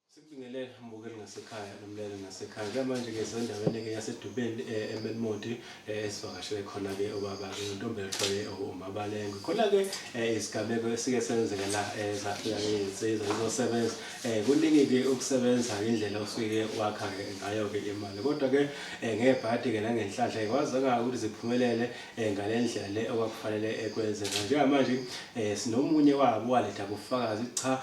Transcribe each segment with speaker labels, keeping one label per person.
Speaker 1: Sikubingelele mbukeli ngasekhaya nomlaleli ngasekhaya. Njengamanje ke sendaweni-ke yaseDubeni eh, eMelmodi eh, esivakashele khona-ke ubaba-ke nontombela kuthiwa-ke u- uMabalengwe. Khona-ke eh, izigameko esike senzeka la eh, zafika-ke izinsizwa zizosebenza. Eh, Kuningi-ke ukusebenza indlela osuke wakha-ke ngayo-ke imali. Kodwa-ke eh, ngebhadi-ke nangenhlanhla-ke kwazeka ukuthi ziphumelele eh, ngale ndlela le okwakufanele eh, kwenzeka. Njengamanje eh, sinomunye wabo waletha ubufakazi cha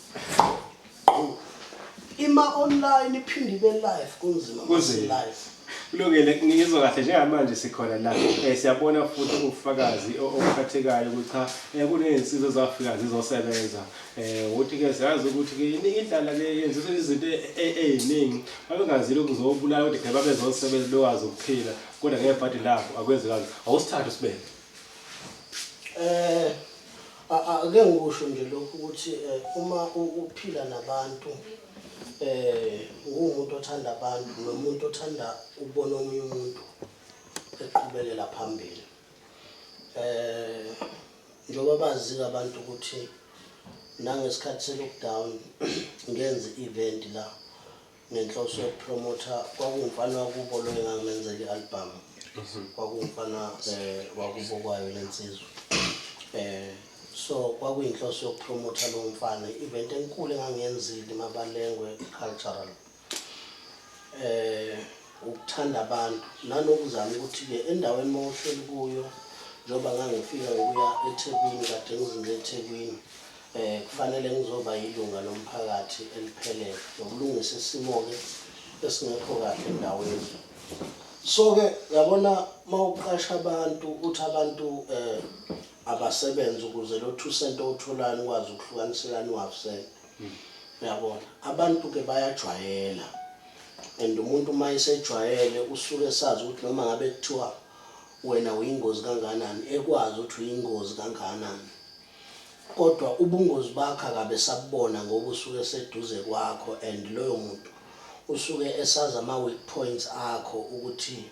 Speaker 2: Ima online iphinde ibe live kunzima mase live. Kulungile
Speaker 1: ngizwa kahle njengamanje sikhona la. Eh siyabona futhi ubufakazi obuphathekayo ukuthi cha eh, kunezinsizwa ezafika zizosebenza. Eh uthi ke siyazi ukuthi ke iningi indlala ke yenziswa izinto e, e, eziningi. Babengazile ukuzobulala kodwa ke babezosebenza bekwazi ukuphila kodwa ngeke badi lapho akwenzekanga. Awusithathe sibeke. Eh
Speaker 2: ake ngikusho nje lokhu ukuthi eh, uma uphila nabantu eh ungumuntu othanda abantu nomuntu othanda ukubona omunye umuntu eqhubekela phambili eh njengoba bazika abantu ukuthi nangesikhathi se-lockdown ngenze i-event la ngenhloso yokupromotha kwakuwumfana wakubo lo engangamenzela i-albhamu mhm. kwakuwumfana um wakubo kwayo le nsizwa um so kwakuyinhloso yokupromotha lowo mfana i-event enkulu engangiyenzile mabalengwe cultural um ukuthanda abantu nanokuzama ukuthi-ke endaweni uma uhleli kuyo njengoba ngangifika ngokuya ethekwini kade ngizinze ethekwini Eh kufanele ngizoba yilunga lomphakathi eliphelele nokulungisa isimo-ke esingekho kahle endaweni. So-ke yabona mawuqasha abantu uthi abantu eh abasebenze ukuze lo 2 cent owutholayo ukwazi ukuhlukanisela niwafusele. Uyabona? Abantu ke bayajwayela. And umuntu uma esejwayele usuke esazi ukuthi noma ngabe kuthiwa wena uyingozi kangakanani ekwazi ukuthi uyingozi kangakanani. Kodwa ubungozi bakho akabe esabubona ngoba usuke eseduze kwakho and loyo muntu usuke esazi ama weak points akho ukuthi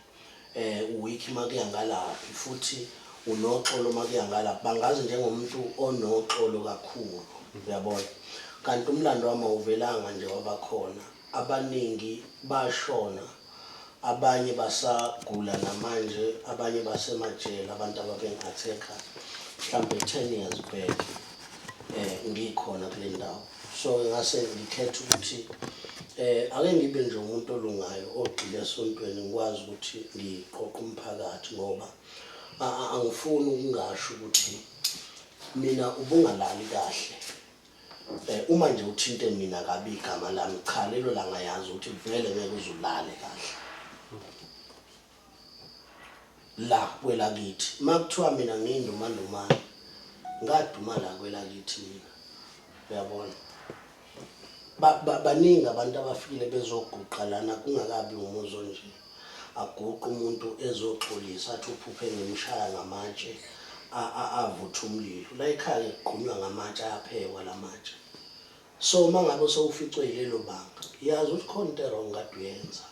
Speaker 2: u weak makuya ngalaphi futhi unoxolo makuya ngalaphi bangazi njengomuntu onoxolo kakhulu uyabona kanti umlando wami awuvelanga nje wabakhona abaningi bashona abanye basagula namanje abanye basemajele abantu ababeng attacker mhlambe 10 years back eh ngikhona kule ndawo so ngase ngikhetha ukuthi eh ake ngibe nje umuntu olungayo ogxile esontweni ngikwazi ukuthi ngiqoqe umphakathi ngoba angifuni ukungasho ukuthi mina ubungalali kahle Eh uma nje uthinte mina kabi igama lami cha lelo langa yazi ukuthi vele ngeke uzulale kahle. La kwelakithi makuthiwa mina ngiyindumandumane ngaduma la kwelakithi mina. Uyabona? Ba baningi abantu abafikile bezoguqa lana kungakabi umuzi onje. aguqe umuntu ezoxolisa athi uphuphe ngimshaya ngamatshe avutha umlilo layikhaya ngigqunywa ngamatshe ayaphekwa lamatshe so uma ngabe sewuficwe yilelo banga yazi ukuthi khona into erong kade uyenza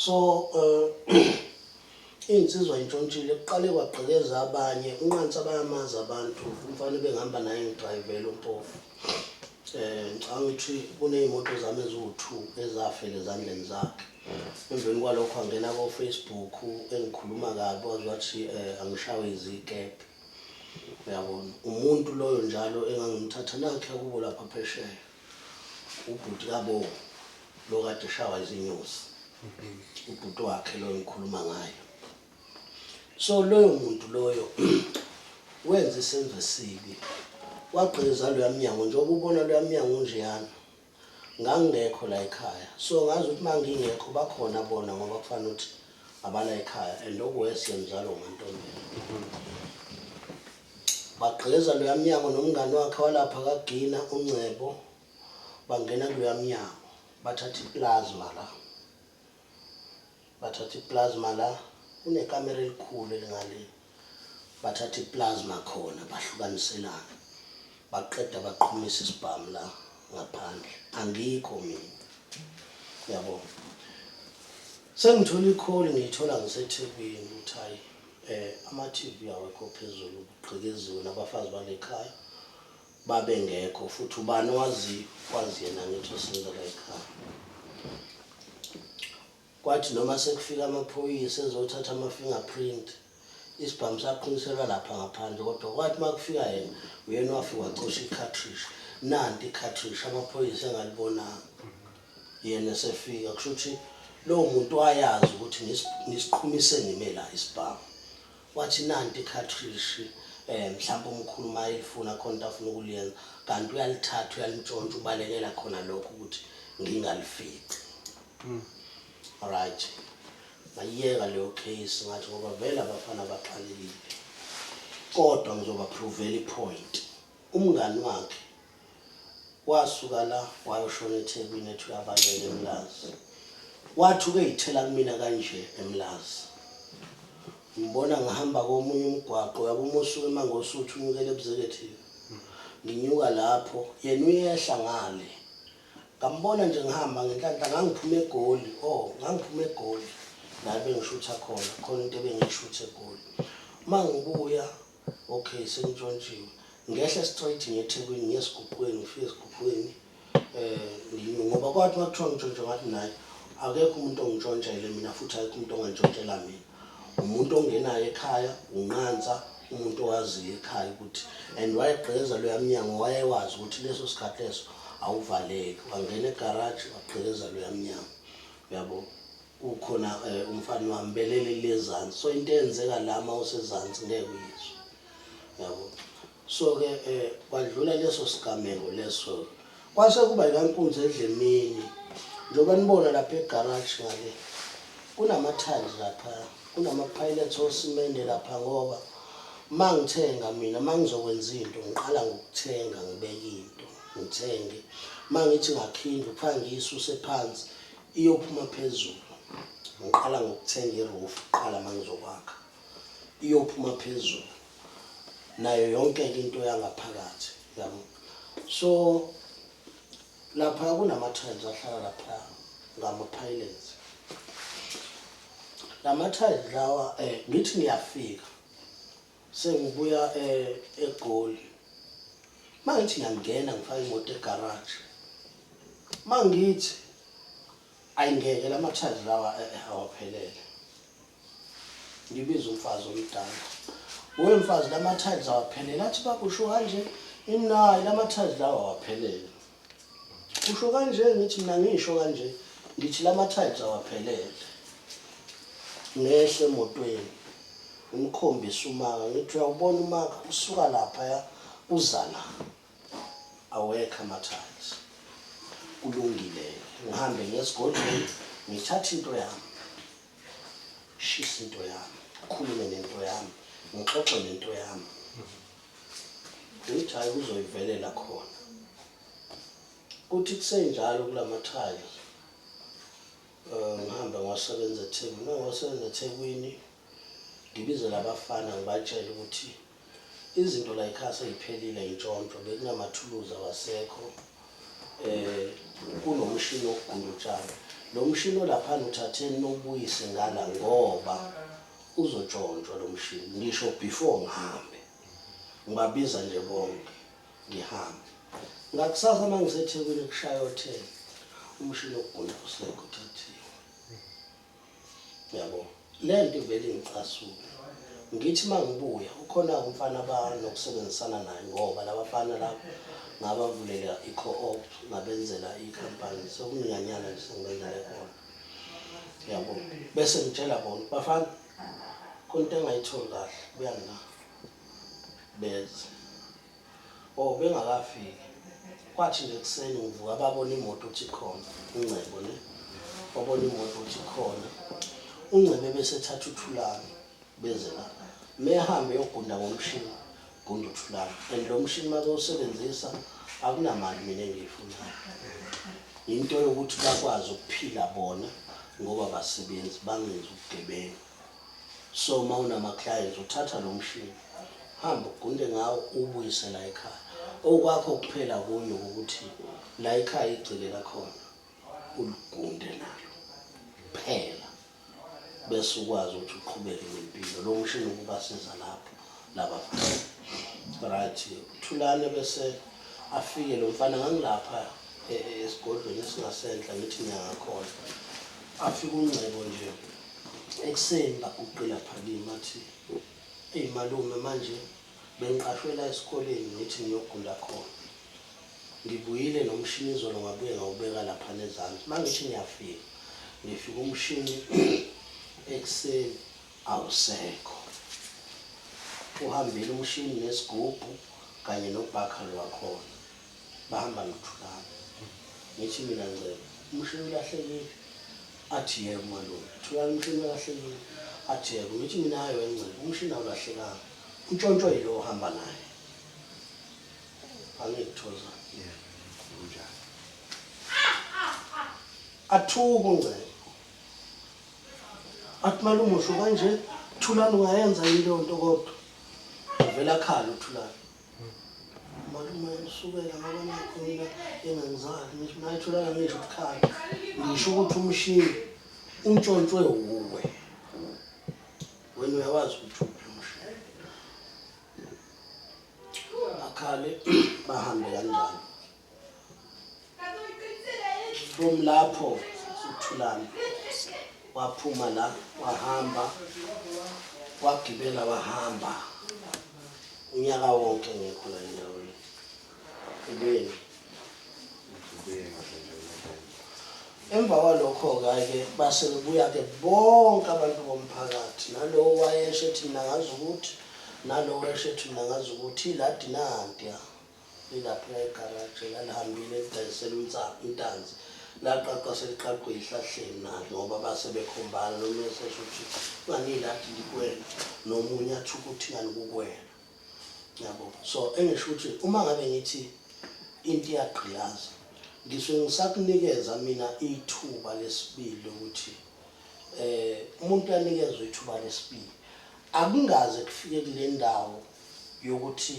Speaker 2: so um Insizwa intshontshile kuqale kwagqekeza abanye unqansa bayamazi abantu umfana ebengihamba naye ngidrayivela umpofu eh ngicanga ukuthi kunezimoto zami eziwu-2 ezafela ezandleni zakhe emveni kwalokho angena ko-facebook engikhuluma kabi waze wathi eh angishawe izikebhe uyabona umuntu loyo njalo engangimthatha nakhe akubo lapha phesheya Ubhuti kabo lo kade eshawa izinyosi. Ubhuti wakhe lo engikhuluma ngayo. So loyo muntu loyo wenza isenzo esibi. Wagqiza loya mnyango njengoba ubona loya mnyango unjeyana. Ngangingekho la ekhaya. So ngazi ukuthi mangingekho bakhona bona ngoba kufanele ukuthi abala ekhaya and okuwese mzalo ngantombela. Bagqiza loya mnyango nomngani wakhe walapha kaGina, uNgcebo, bangena kuloya mnyango. Bathatha i-plasma la. Bathatha i-plasma la. Kunekamera elikhulu elingale. Bathatha i-plasma khona, bahlukaniselana. Baqeda baqhumisa isibhamu la ngaphandle. Angikho mina. Yabo. Sengithola i-call ngiyithola ngiseThekwini ukuthi hhayi Ama TV awekho phezulu kugqekeziwe nabafazi balekhaya babengekho futhi ubani owaziyo kwazi yena angithi osinda layikhaya kwathi noma sekufika amaphoyisa ezothatha ama fingerprint isibhamu saqhunyiselwa lapha ngaphandle kodwa kwathi makufika yena uyena wafika wacosha i cartridge nanti i cartridge amaphoyisa engalibonanga Yena esefika kusho ukuthi lowo muntu wayazi ukuthi ngisiqhumise ngime la isibhamu. Wathi nanti ikhathrishi um mhlawumpe umkhulu uma elifuna khona into afuna ukuliyenza kanti uyalithatha uyalintshontsha ubalekela khona lokho ukuthi ngingalifici hmm. right ngayiyeka leyo case ngathi ngoba vele abafana baxakekile kodwa ngizobaphrovela ipoint umngani wakhe Wasuka la wayoshona eThekwini ethi uyabaleka eMlazi. Wathi ukeyithela kumina kanje eMlazi. Ngibona ngihamba komunye umgwaqo yabo uma usuka eMangosuthu unyukela eBuzekethini. Nginyuka lapho yena uyehla ngale. Ngambona nje ngihamba ngenhlanhla ngangiphuma eGoli oh ngangiphuma eGoli la bengishutha khona khona into ebengiyishutha eGoli. Uma ngibuya Ok sengitshontshiwe ngehla straight ngiye eThekwini ngiye esiguqweni ngifike esiguqweni um ngoba kwathi uma kuthiwa ngitshontshe ngathi nayi akekho umuntu ongitshontshele mina futhi akekho umuntu ongantshontshela mina umuntu ongenayo ekhaya unqansa umuntu owaziyo ekhaya ukuthi and wayegqeza loya mnyango wayewazi ukuthi leso sikhathi leso awuvaleki wangena egaraji wagqekeza loya mnyango uyabo Kukhona umfana wami belele lezansi so into eyenzeka la uma usezansi ngeke uyizwe yabo so ke kwadlula leso sigameko leso kwase kuba ikankunzi edle emini njengoba nibona lapha egaraji ngale kunama-tiles lapha kunama-pilots osimende lapha ngoba uma ngithenga mina uma ngizokwenza into ngiqala ngokuthenga ngibeke into ngithenge uma ngithi ngakhinda ukufanele ngiyisuse phansi Iyophuma phezulu. Ngiqala ngokuthenga i-roof kuqala uma ngizokwakha. Iyophuma phezulu. Nayo yonke-ke into yangaphakathi, yabo. So, laphaya kunama-tiles ahlala laphaya, ngama-pylons. Lama-tiles lawa, ngithi ngiyafika, Sengibuya e eGoli. Mangithi ngiyangena ngifaka imoto egarage. Mangithi ayingeke lamathazi lawa eh, eh, awaphelele. Ngibiza umfazi omdala. Uwe mfazi lamathazi awaphelele athi bakusho kanje imnayi lamathazi lawa awaphelele. Usho kanje ngithi mina ngisho kanje ngithi lama tiles awaphelele. Ngehle emotweni ngimkhombise umaka ngithi uyawubona umaka usuka lapha ya uza la. Awekho ama tiles. Kulungile ngihambe ngesigodlweni ngithathe into yami. Shisa into yami, khulume nento yami, ngixoxe nento yami. Ngithi hhayi kuzoyivelela khona. Kuthi kusenjalo kula mathayi um ngihambe ngiwasebenza ethekwini uma ngiwasebenza ethekwini ngibizele abafana ngibatshele ukuthi izinto la yikhaya seyiphelile yintshontsho bekunamathuluzi awasekho um kunomshini wokugunda utshani lo mshini olaphana uthatheni nowubuyise ngala ngoba Uzontshontshwa lo mshini ngisho before ngihambe. Ngibabiza nje bonke ngihambe. Ngakusasa uma ngiseThekwini kushaya o-10 umshini wokugunda usekho uthathiwe. Yabo, le nto ivele ingicasule. Ngithi uma ngibuya ukhona-ke umfana abanokusebenzisana naye ngoba la bafana laba ngabavulela i-co-op ngabenzela ikhampani. Sekunyanyana nje sengibenzela khona. yabo bese ngitshela bona bafana konto engayitholi kahle buya ngina beze oh bengakafiki kwathi nje kuseni ngivuka babona imoto ukuthi khona ingcebo ne babona imoto ukuthi khona ungcebe bese thatha uthulani beze la mehambe yogunda ngomshini Gumbi thulani. And lo mshini uma bewusebenzisa akunamali mina engiyifunayo. Yinto yokuthi bakwazi ukuphila bona ngoba basebenzi bangenzi ubugebengu. So uma unama-clients uthatha lo mshini hambe ugunde ngawo ubuyise la ekhaya. Okwakho kuphela kunye ukuthi la ekhaya igcile lakhona uligunde nalo kuphela. bese ukwazi ukuthi uqhubeke nempilo lo mshini ukubasiza lapho laba right thulane bese afike lo mfana ngangilapha e, e, esigodlweni esingasenhla ngithi ngiyangakhona afike ungcebo nje ekuseni baguqila phakima athi eyi malume manje Bengiqashwe la esikoleni ngithi ngiyogunda khona. Ngibuyile nomshini izolo ngabuye ngawubeka laphana ezansi. Uma ngithi ngiyafika, ngifika umshini ekuseni awusekho. Uhambile umshini nesigubhu kanye nobhakha lwakhona. Bahamba noThulani. Ngithi mina Ngcebo, umshini ulahlekile? Athi yebo malume. Thulani, umshini ulahlekile? Athi yebo. Ngithi mina hhayi wena Ngcebo, umshini awulahlekanga. Untshontshwe yilo ohamba naye. Angithi Thoza. Yebo. Kunjalo. Athuke uNgcebo. Athi malume usho kanje? Thulani ungayenza yini leyo nto kodwa? Uvele akhale uThulani. Malume usukela ngoba nakho mina engangizali ngisho nayitholana ngisho ukukhala ngisho ukuthi umshini untshontshwe wuwe wena uyawazi ukuthi uphi umshini akhale bahambe kanjalo Boom lapho uthulana waphuma la wahamba wagibela wahamba unyaka wonke ngekho la endaweni ibeni emva kwalokho-ke ayike base kubuya-ke bonke abantu bomphakathi nalowo wayesho ethi mna ngazi ukuthi nalowo esho ethi mna ngazi ukuthi ila dinanti Lilaphaya egaraji elalihambile lidayisela uNsangu intanzi. Laqaqwa seliqaqwe ezihlahleni nalo ngoba base bekhombana nomunye esesho ukuthi nganile athi ngikwena nomunye athi ukuthi nganikukwena. Yabo. So engisho ukuthi uma ngabe ngithi into iyagqilaza ngisuke ngisakunikeza mina ithuba lesibili lokuthi eh umuntu uyanikezwa ithuba lesibili. Akungaze kufike kule ndawo yokuthi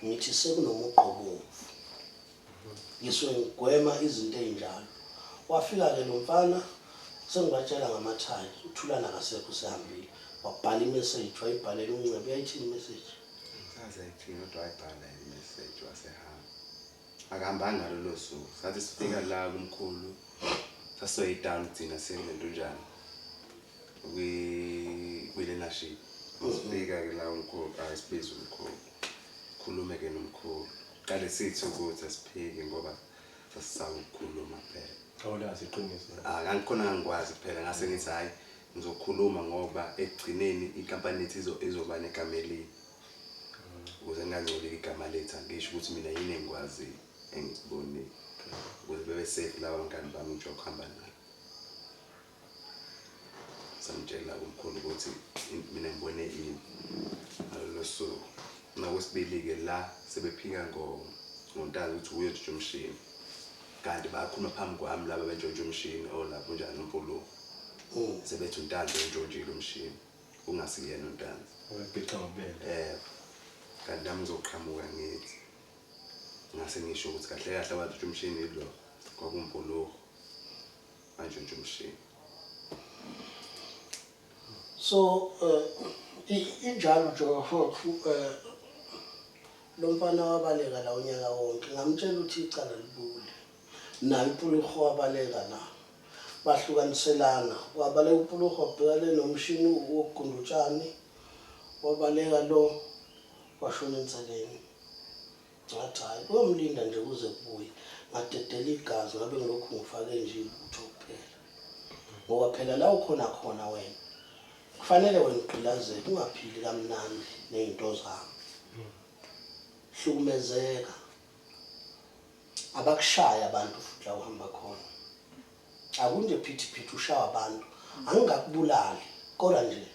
Speaker 2: ngithi sekunomugqa obomvu ngisuke ngigwema izinto ezinjalo wafika ke lo mfana sengibatshela ngamathayi uthulana kasekho usehambile wabhala imessage wayibhalela uncebe uyayithini imessage sazayithini
Speaker 3: kodwa wayibhala imessage wasehamba akahambanga ngalolo suku sathi sifika la kumkhulu sasoyidala ugcina sekunento njani kwi-learnership uzifika ke la umkhulu ayisibiza umkhulu khulume ke nomkhulu qale sithi ukuthi asiphiki ngoba sasisaba ukukhuluma phela awulazi iqiniso
Speaker 1: angikhona ngangikwazi
Speaker 3: phela ngase ngithi hhayi ngizokhuluma ngoba ekugcineni inkampani yethu izoba negama elibi ukuze ngingangcoleki igama lethu angisho ukuthi mina yini engikwaziyo engikubonile ukuze bebe safe lawa ngani bami ngisho kuhamba nabo samtshela umkhulu ukuthi mina ngibone ini ngalolo suku nakwesibili-ke la sebephika ngontazi ukuthi uye ntshitsha umshini kanti bakhuluma phambi kwami laba bentshontsha umshini olapho oh, njani umpuluko oh. sebethi untanzi ontshontshile umshini ungasiyena untanzi um
Speaker 1: eh, kanti
Speaker 3: nami ngizoqhamuka ngithi ngase ngisho ukuthi kahle kahle abathi umshini lo kwakumpuluko Manje nje umshini.
Speaker 2: So uh, injalo nje hophu uh, eh, lo mfana wabaleka la unyaka wonke ngamtshela ukuthi icala libule naye upuluho wabaleka na bahlukaniselana wabaleka upuluho wabhekane nomshini wokugunda utshani wabaleka lo washona enseleni Ngathi hhayi kuyomlinda nje kuze kubuye. Ngadedela igazi ngabe ngilokhu ngifake nje ibutho kuphela. Ngoba phela la ukhona khona wena kufanele wena ugqilazele ungaphili kamnandi nezinto zami. Hlukumezeka. Abakushaya abantu futhi la uhamba khona. Akunje phithi phithi ushawa abantu. Angingakubulali kodwa nje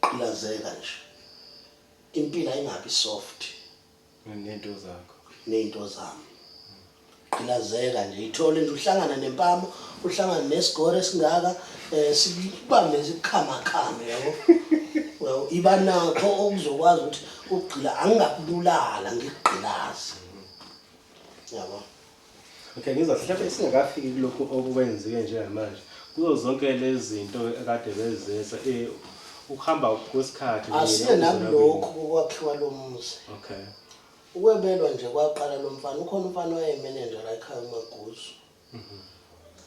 Speaker 2: Qilazeka nje. Impilo ayingabi
Speaker 1: soft.
Speaker 2: Nento zakho.
Speaker 1: Nento
Speaker 2: zami. Qilazeka nje ithole nje uhlangana nempama, uhlangana nesigore esingaka eh sikubambe isikhama khama yabo. Well, iba nakho okuzokwazi ukuthi ugcila angingakubulala ngigqilaze. Yabo.
Speaker 1: Okay, ngizwa mhlawumbe singakafiki kulokhu okwenziwe njengamanje. Kuzo zonke lezi zinto akade bezenza eh ukuhamba kwesikhathi asiye nakulokhu
Speaker 2: kokwakhiwa lo muzi okay
Speaker 1: ukwebelwa
Speaker 2: nje kwaqala lo mfana ukhona umfana owayemenenja la ekhaya umaguzu mhm.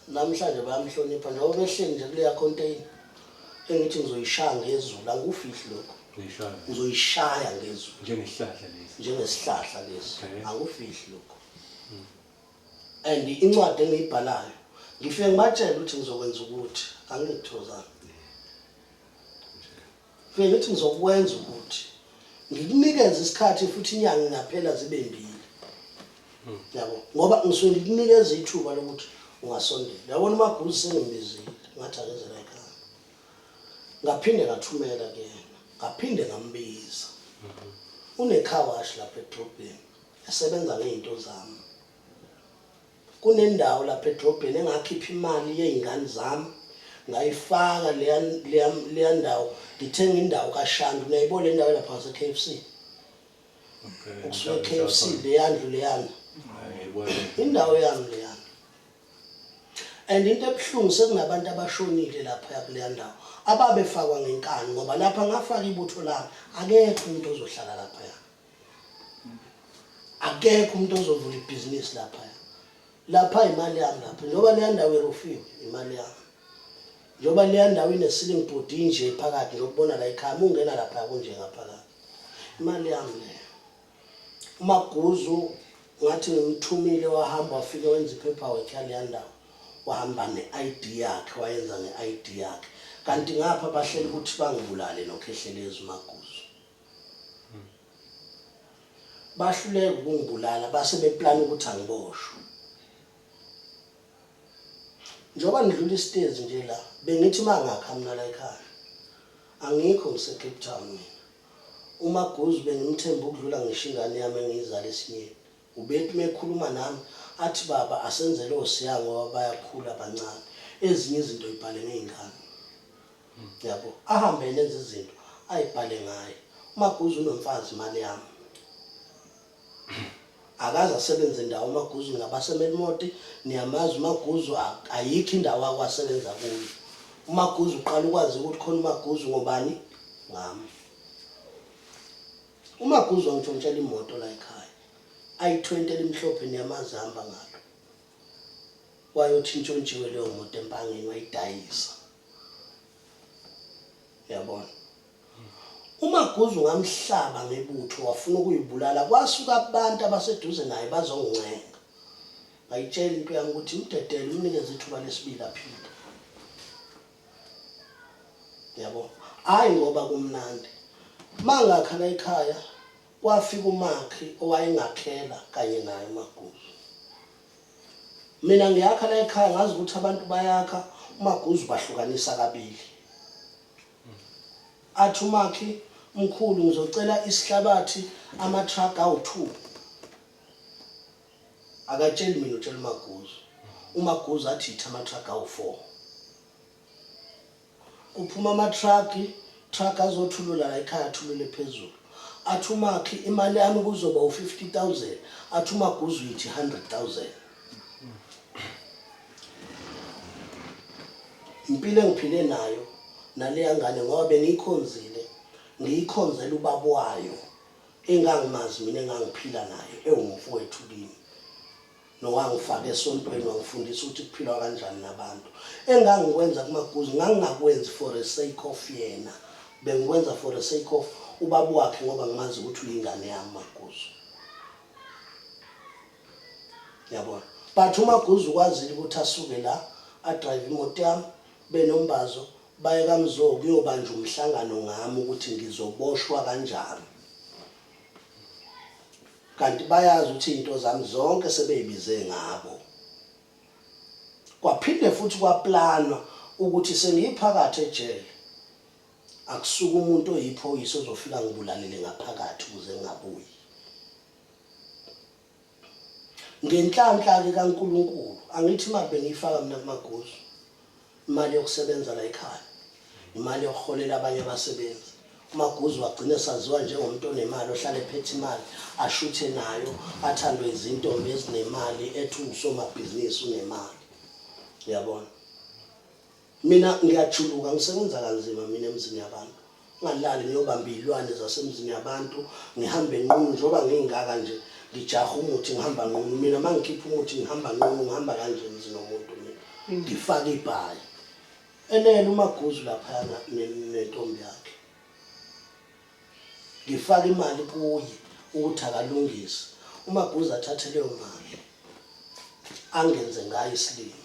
Speaker 2: namhlanje bayamhlonipha njengoba behleli nje kuleya container engithi ngizoyishaya ngezulu angikufihli lokho
Speaker 1: ngizoyishaya
Speaker 2: ngezulu njengesihlahla lesi
Speaker 1: njengesihlahla lesi
Speaker 2: angikufihli
Speaker 1: lokho
Speaker 2: and incwadi engiyibhalayo ngifike ngibatshele ukuthi ngizokwenza ukuthi angingithozanga fike ngithi ngizokwenza ukuthi ngikunikeze isikhathi futhi inyanga ingaphela zibe mbili yabo ngoba ngisuke ngikunikeza ithuba lokuthi ungasondela yabona umaguzi sengimbizile ngathi akezela ekhaya ngaphinde ngathumela kuyena ngaphinde ngambiza unekhawashi lapha edrobheni Esebenza ngezinto zami. Kunendawo lapha edrobheni engakhipha imali yezingane zami ngayifaka leya leya leya ndawo ngithenga indawo kaShandu niyayibona le ndawo lapha ngase KFC. Okay.
Speaker 1: Kusuke KFC
Speaker 2: leyandlu leyana. Ngiyibona.
Speaker 1: Indawo yami
Speaker 2: leyana. And into ebuhlungu sekunabantu abashonile lapha yakuleya ndawo ababefakwa ngenkani ngoba lapha ngafaka ibutho lami akekho umuntu ozohlala lapha. akekho umuntu ozovula ibhizinisi lapha lapha imali yami lapha njengoba leya ndawo irufiwe imali yami njengoba leya ndawo ine-ceiling board inje phakathi njengokubona la ikhaya uma ungena lapha kunje ngaphakathi imali yami leyo umaguzu ngathi ngimthumile wahamba wafike wenza i-paperwork yaleya ndawo wahamba ne-id yakhe wayenza ne-id yakhe kanti ngapha bahlele ukuthi bangibulale nokhehlelezi umaguzu bahluleka ukungibulala base beplana ukuthi angiboshwe njengoba ngidlula isitezi nje la bengithi uma ngakha mina la ekhaya angikho ngisecape town mina umaguzu bengimthemba ukudlula ngisho ingane yami engiyizala esinyeni Ubethi uma ekhuluma nami athi baba asenzele oSiya ngoba bayakhula bancane ezinye izinto yibhale ngey'ngane. Yabo ahambe yena enze izinto ayibhale ngaye. UMaguzu unomfazi imali yami. Akaze asebenze ndawo uMaguzu ningabaseMelmoti niyamazi uMaguzu ayikho indawo ake wasebenza kuyo. UMaguzu uqala ukwazeka ukuthi khona uMaguzu ngobani? Ngami. UMaguzu wangishontshela imoto la ekhaya, i-20 elimhlophe niyamazi ahamba ngalo. Wayothi intshontshiwe leyo moto eMpangeni wayidayisa. Yabona? UMaguzu ngamhlaba ngebutho wafuna ukuyibulala kwasuka abantu abaseduze naye bazongincenga. Ngayitshela into yami ukuthi imdedele umnikeze ithuba lesibili aphile. yabo hayi ngoba kumnandi mangakhala ekhaya kwafika umakhi owayengakhela kanye naye umaguzu mina ngiyakha la ekhaya ngazi ukuthi abantu bayakha umaguzu bahlukanisa kabili athi umakhi mkhulu ngizocela isihlabathi amatruck awu-two Akatsheli mina utshela uMaguzu. UMaguzu athi yitha amatruck awu-four. Kuphuma amatruck, truck azothulula la ekhaya athulule phezulu. Athi uMakhi imali yami kuzoba u-fifty thousand. Athi uMaguzu yithi hundred thousand. Impilo engiphile nayo naleya ngane ngoba bengiyikhonzile ngiyikhonzela ubaba wayo engangimazi mina engangiphila naye ewumfowethu kimi nowangifaka esontweni wangifundisa ukuthi kuphilwa kanjani nabantu engangikwenza kumaguzi ngangingakwenzi for a sake of yena bengikwenza for a sake of ubaba wakhe ngoba ngimazi ukuthi uyingane yami maguzu yabona but umaguzu ukwazile ukuthi asuke la adrive imoto yami benombazo Baye kaMzo kuyobanjwa umhlangano ngami ukuthi ngizoboshwa kanjani. Kanti bayazi ukuthi izinto zami zonke sebeyibize ngabo. Kwaphinde futhi kwaplanwa ukuthi sengiyiphakathi ejele akusuka umuntu oyiphoyisa ozofika ngibulalele ngaphakathi ukuze ngingabuyi. Ngenhlanhla-ke kaNkulunkulu, angithi imali bengiyifaka mina kuMagozu, imali yokusebenza la ekhaya, imali yokuholela abanye abasebenzi. UMagozu wagcina esaziwa njengomuntu onemali, ohlale ephethe imali, ashuthe nayo, athandwe izintombi ezinemali, ethi uwusomabhizinisi, unemali. Uyabona? Mina ngiyajuluka ngisebenza kanzima mina emzini yabantu. Ngalali ngiyobamba izilwane zasemzini yabantu ngihambe nqunu njengoba ngingaka nje ngijaha umuthi ngihamba nqunu mina mangikhipha umuthi ngihamba nqunu ngihamba kanje emzini womuntu mina mm. ngifaka ibhayi elele umaguzu lapha nentombi yakhe ngifaka imali kuye ukuthi akalungise umaguzu athathe leyo mali angenze ngayo isilimo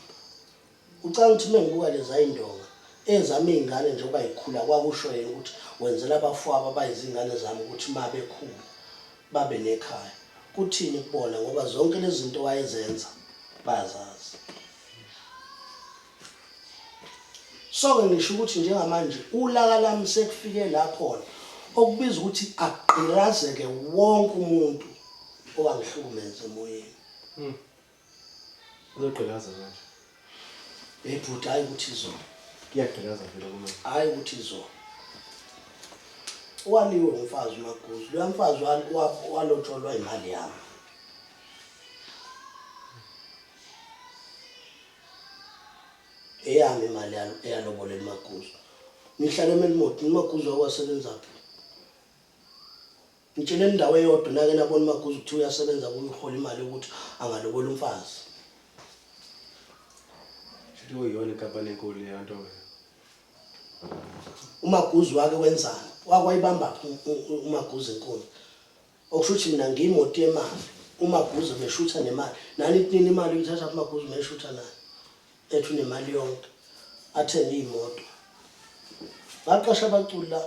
Speaker 2: Ucabanga ukuthi uma ngibuka lezayindonga ezama iy'ngane njengoba yikhula kwakusho yena ukuthi wenzela abafowabo abayizingane zami ukuthi uma bekhula babe nekhaya. Kuthini kubona ngoba zonke lezi zinto wayezenza bayazazi. So-ke ngisho ukuthi njengamanje ulaka lami sekufike la khona okubiza ukuthi agqirazeke wonke umuntu owangihlukumeza emoyeni. Hmm.
Speaker 1: Uzogqilaza manje. Hey
Speaker 2: bhuti hayi ukuthi izona. Kuyagqilaza vele
Speaker 1: kuma. Hayi ukuthi
Speaker 2: izona. Waliwe umfazi uMaguzu. Lo mfazi walotsholwa imali yami. Eyami imali yalo eyalobolela uMaguzu. Ngihlale eMelmoth, uMaguzu wakwasebenzaphi? Ngitshele indawo eyodwa nake nabona uMaguzu kuthiwa uyasebenza kuyo uhola imali yokuthi angalobola umfazi.
Speaker 1: Shuthi kuyiyona inkampani enkulu leyo nto wena.
Speaker 2: uMaguzu wake wenzani wakwayibamba uMaguzu enkulu okusho ukuthi mina ngiyimoti yemali uMaguzu meshutha nemali nani kunini imali uyithatha kuMaguzu meshutha nayo ethi unemali yonke athenge iy'moto ngaqasha abaculi la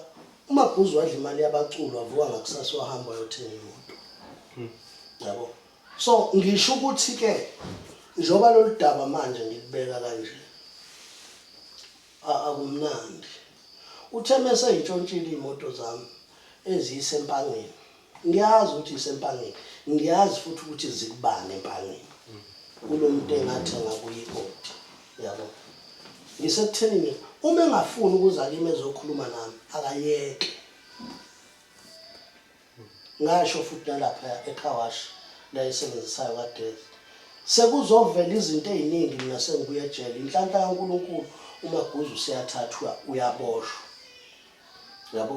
Speaker 2: umabhuzi wadla imali yabaculi wavuka ngakusasa wahamba wayothenga imoto hmm. yabo so ngisho ukuthi-ke njengoba lolu daba manje ngilibeka kanje akumnandi uthe mese ngitshontshile iy'moto zami eziyisempangeni Ngiyazi ukuthi ngisempangeni. Ngiyazi futhi ukuthi zikubani empangeni. Kulo muntu engathenga kuye ikoti. Yabo. Ngisekuthenini uma engafuni ukuza kimi ezokhuluma nami akayeke. Ngasho futhi nalapha ekhawash la esebenzisayo kaDeath. Sekuzovela izinto eziningi mina sengibuye ejele. Inhlanhla kaNkulunkulu uMaguzu seyathathwa uyaboshwa. Yabo.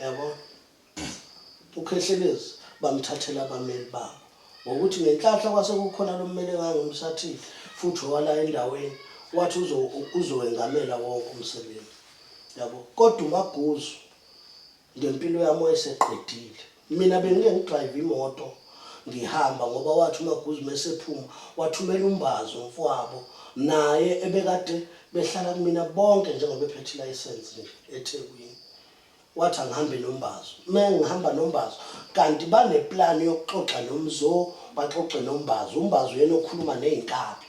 Speaker 2: yabo ukhehlelezi bamthathela abameli babo ngokuthi ngenhlahla kwase kukhona lo mmeli engangimsathile futhi owala endaweni wathi uzowengamela wonke umsebenzi yabo kodwa umaguzu ngempilo yami wayeseqedile mina bengike ngidrive imoto ngihamba ngoba wathi umaguzu mesephuma wathumela umbazi umfowabo naye ebekade behlala kumina bonke njengoba ephethe ilayisensi nje ethekwini wathi angihambe nombazo uma ngihamba nombazo kanti baneplani yokuxoxa nomzo baxoxe nombazo umbazo yena okhuluma ney'nkabi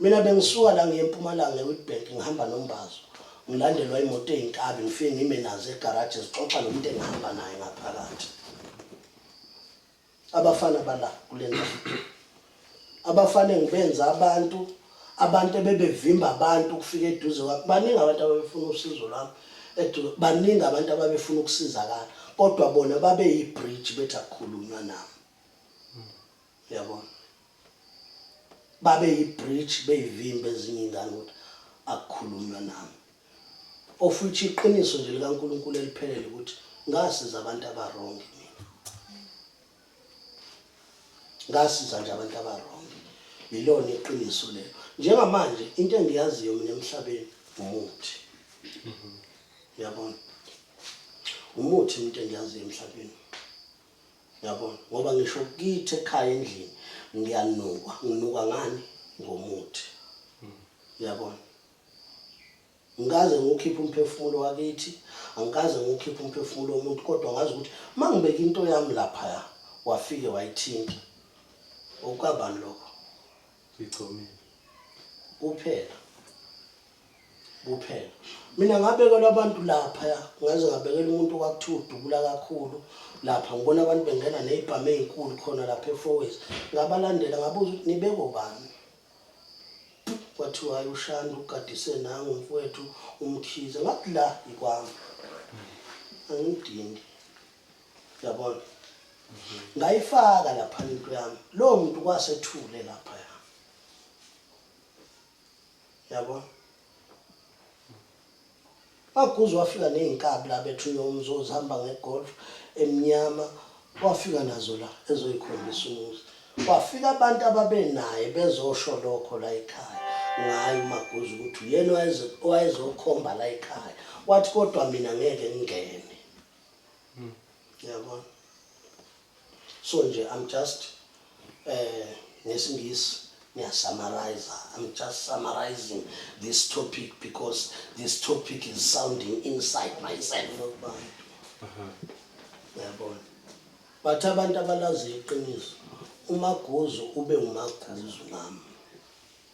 Speaker 2: Mina bengisuka la ngiye eMpumalanga eWitbank ngihamba noMbazo. Ngilandelwa imoto eyinkabi ngifike ngime nazo egaraji zixoxa nomuntu engihamba naye ngaphakathi. Abafana bala kule ndawo. Abafana engibenza abantu abantu ebebevimba abantu ukufika eduze kwakhe baningi abantu ababefuna usizo lwami eduze baningi abantu ababefuna ukusizakala kodwa bona babeyi-bridge bethi akukhulunywa nami. yabo babe yi-bridge beyivimba ezinye iy'ngane ukuthi akukhulunywa nami of which iqiniso nje likankulunkulu eliphelele ukuthi ngasiza abantu abarongi mina ngasiza nje abantu abarongi yilona iqiniso lelo njengamanje into engiyaziyo mina emhlabeni umuthi yabona umuthi into engiyaziyo emhlabeni Yabona ngoba ngisho kithi ekhaya endlini ngiyanukwa, nginukwa ngani ngomuthi. Yabona. Ngikaze ngiwukhiphe umphefumulo wakithi, angikaze ngiwukhiphe umphefumulo womuntu kodwa ngazi ukuthi mangibeka into yami lapha wafike wayithinta. Okukabani lokho?
Speaker 1: Ngigcomile.
Speaker 2: Kuphela. Kuphela. Mina ngabekelwa abantu lapha ya. Ngaze ngabekela umuntu kwakuthiwa udubula kakhulu. Lapha ngibona abantu bengena nezibhamu ezinkulu khona lapha eFoways. Ngabalandela ngabuza ukuthi nibeko bani. Kwathiwa uShandu ugadise nangu mfowethu umkhize. Ngathi la yikwami. Angidingi. yabona ngayifaka lapha into yami lowo muntu kwasethule lapha ya yabona maguzu wafika ney'nkabi la bethu yomzi ozihamba ngegolf emnyama wafika nazo la ezoyikhombisa umuzi kwafika abantu ababenaye bezosho lokho la ekhaya ngayo umaguzu ukuthi uyena owayezokhomba la ekhaya wathi kodwa mina ngeke ngingene mm. yabona so nje i'm just eh ngesingisi ngiyasummarize i'm just summarizing this topic because this topic is sounding inside myself uh-huh. yabona but abantu abalazi iqiniso umaguzu ube ngumaguzu nami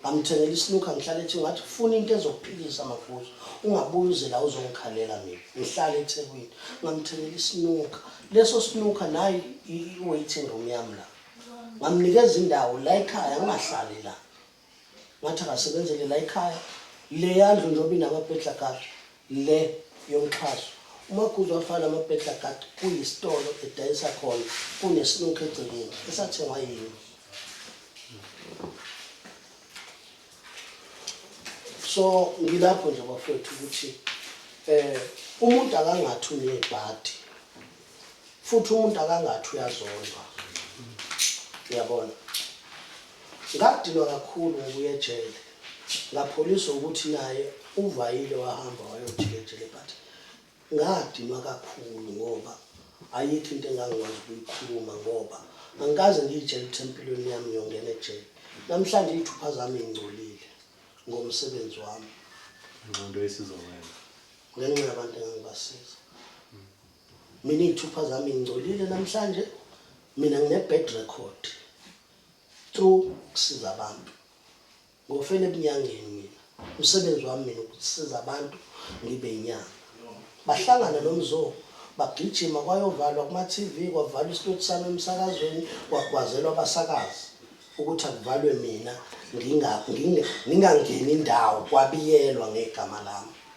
Speaker 2: ngamthengela isinuka ngihlale ethi ngathi funa into ezokuphilisa mafuza ungabuyi uze la uzongikhalela mina ngihlale ethekwini ngamthengela isinuka leso sinuka nayi i-waiting room yam la ngamnikeza indawo la ekhaya ngingahlali la ngathi akasebenzele la ekhaya le yandlu njengoba inamabhedla kade Le yomxhaso. UMaguzu wafana noBedlagat kuyisitolo edayisa khona kunesinukhu egcekeni esathengwa yimi. So ngilapho nje bafowethu ukuthi eh umuntu akangathi unebhadi futhi umuntu akangathi uyazondwa uyabona ngakudinwa kakhulu ngokuya ejele ngapholiswa ukuthi naye uvayile wahamba wayojika ejele but ngadinwa kakhulu ngoba ayikho into engangikwazi ukuyikhuluma ngoba angikaze ngiyitshela ukuthi empilweni yami ngiyongena ejele namhlanje iy'thupha zami ingcolile ngomsebenzi wami nqondo
Speaker 1: esizowenza ngenxa
Speaker 2: yabantu engangibasiza Mina iy'thupha zami ngingcolile namhlanje mina ngine-bad record through ukusiza abantu ngofela ebunyangeni mina umsebenzi wami mina ukusiza abantu ngibe inyanga bahlangana nomzoo bagijima kwayovalwa kuma-tv kwavalwa isitoti sami emsakazweni kwagwazelwa abasakazi ukuthi akuvalwe mina ngingangeni indawo kwabiyelwa ngegama lami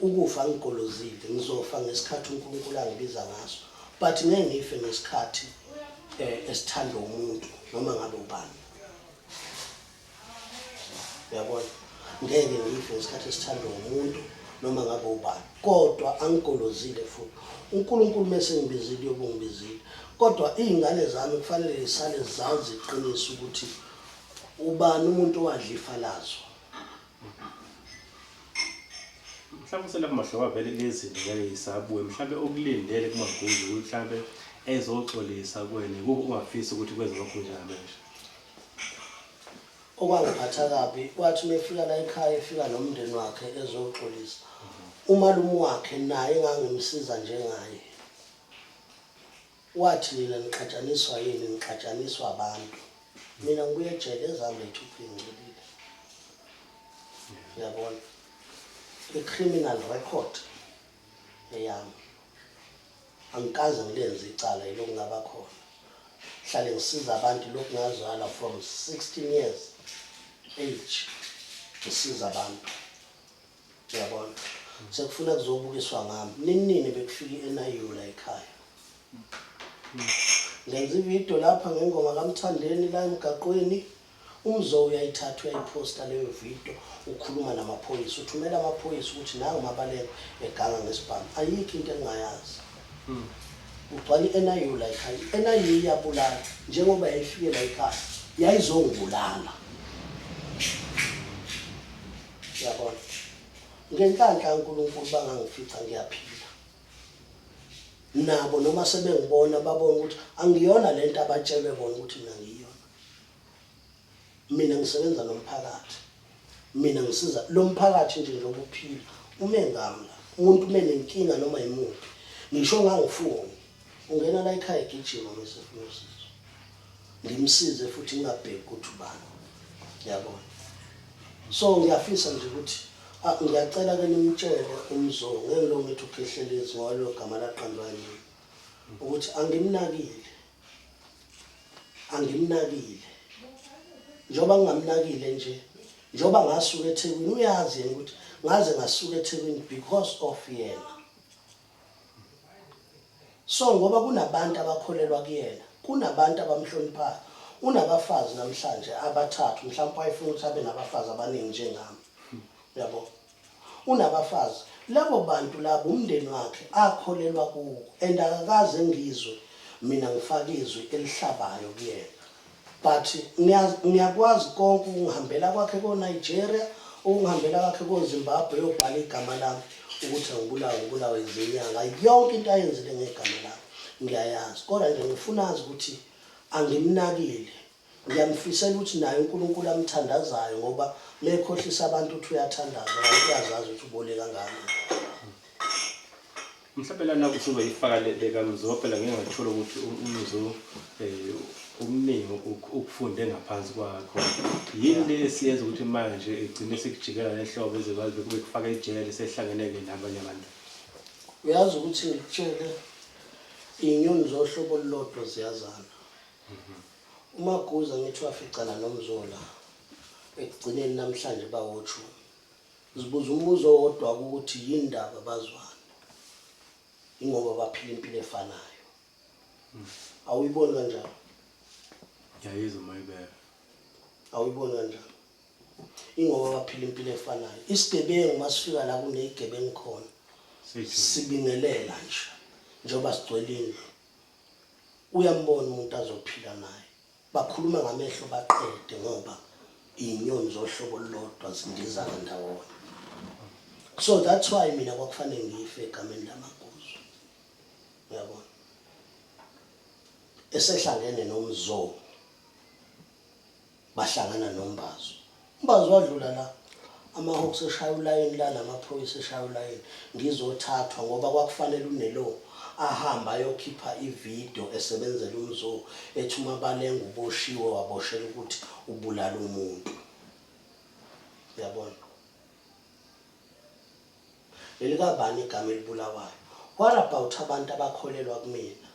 Speaker 2: Ukufa angigolozile ngizofa ngesikhathi uNkulunkulu angibiza ngaso but ngeke ngife ngesikhathi eh, esithandwa umuntu noma ngabe ubani yabona ngeke ngife ngesikhathi esithandwa umuntu noma ngabe ubani kodwa angigolozile futhi uNkulunkulu mese ngibizile yobungibizile kodwa izingane zami kufanele zisale zazi iqiniso ukuthi ubani umuntu owadla ifa lazo
Speaker 1: mhlawumbe uselapha mahlobo avele lezinto ngeke yisabuye mhlawumbe okulindele kumaguzu ukuthi mhlawumbe ezoxolisa kuwena kuko ungafisi ukuthi kwenze lokhu njalo nje
Speaker 2: okwangiphatha kabi wathi uma efika la ekhaya efika nomndeni wakhe ezoxolisa umalume wakhe naye engangimsiza njengaye Wathi nina nixatshaniswa yini nixatshaniswa abantu mina ngibuye ejele ezami leythupha ingcolile yabona i-criminal record eyami angikaze ngilenze icala yilokhu ngaba khona hlale ngisiza abantu lokhu ngazala from 16 years age ngisiza abantu Uyabona? Sekufuna kuzobukiswa ngami. Ninini bekufika i-NIU la ekhaya. Ngenza ividiyo lapha ngengoma kaMthandeni la emgaqweni. UMzo uyayithatha uyayiphosta leyo vidiyo ukhuluma namaphoyisa. Uthumela amaphoyisa ukuthi nangu uMabaleka eganga ngesibhamu. Ayikho into engingayazi. Kugcwala i-NIU la ekhaya. I-NIU iyabulala njengoba yayifike la ekhaya yayizongibulala. Uyabona? Ngenhlanhla uNkulunkulu bangangifica ngiyaphila. Nabo noma sebengibona babona ukuthi angiyona lento abatshelwe bona ukuthi mina ngiyona. Mina ngisebenza nomphakathi. Mina ngisiza lo mphakathi nje nje ukuphila. Ume ngami la. Umuntu uma nenkinga noma yimuphi. Ngisho ngangifuni. Ungena la ekhaya egijima mase ufuna usizo. ngimsize futhi ngingabheki ukuthi ubani yabona so ngiyafisa nje ukuthi ah, ngiyacela ke nimtshele umzo ngeke lo ngithi ukhehlelezi ngoba lo gama laqandwa yini ukuthi angimnakile angimnakile njengoba ngingamnakile nje njengoba ngasuka ethekwini uyazi yena ukuthi ngaze ngasuka ethekwini because of yena so ngoba kunabantu abakholelwa kuyena kunabantu abamhloniphayo unabafazi namhlanje abathathu mhlawumbe wayefuna ukuthi abe nabafazi abaningi njengami yabo unabafazi labo bantu labo umndeni wakhe akholelwa kuwo and akakaze ngizwe mina ngifaka izwi elihlabayo kuyena But niyaz niyakwazi konke ukungihambela kwakhe ko Nigeria ukungihambela kwakhe ko Zimbabwe yobhala igama lami ukuthi angibulawe ngibulawe izinyanga yonke into ayenzile ngegama lami ngiyayazi kodwa nje ngifuna azi ukuthi angimnakile ngiyamfisela ukuthi naye uNkulunkulu amthandazayo ngoba mekhohlisa abantu uthi uyathandaza kanti uyazazi ukuthi ubole kangaka
Speaker 1: Mhlawumbe lana kusuke ifaka lekamzo phela ngeke ngathole ukuthi umzo eh umningi ukufunde ngaphansi kwakho yini le esiyenza ukuthi manje igcine sikujikela lehlobo ezikwazi kube kufaka ejele sehlangeneke nabanye abantu uyazi
Speaker 2: ukuthi ngikutshele inyoni zohlobo olulodwa ziyazana mhm. uma kuza ngithi waficana nomzola ekugcineni namhlanje bawothula Ngizibuza umbuzo owodwa ukuthi yini ndaba bazwane. Ingoba baphila impilo efanayo. Awuyiboni kanjalo?
Speaker 1: Ngiyayizwa uma ibeka. Awuyiboni
Speaker 2: kanjalo? Ingoba baphila impilo efanayo. Isigebengu uma sifika la kunezigebengu khona sibingelela nje njengoba sigcwele indlu. Uyambona umuntu azophila naye. Bakhuluma ngamehlo baqede ngoba inyoni zohlobo olulodwa zindizana ndawonye. So that's why mina kwakufanele ngife egameni lamaguzu. Uyabona? Esehlangene nomzoo bahlangana nombazo. Umbazi wadlula la amahawks eshaya ulayini la namaphoyisa eshaya ulayini ngizothathwa ngoba kwakufanele unelo ahambe ayokhipha ividiyo esebenzela umzoo ethi umabalenga uboshiwe waboshela ukuthi ubulala umuntu yabona elikabani igama elibulawayo what about abantu abakholelwa kumina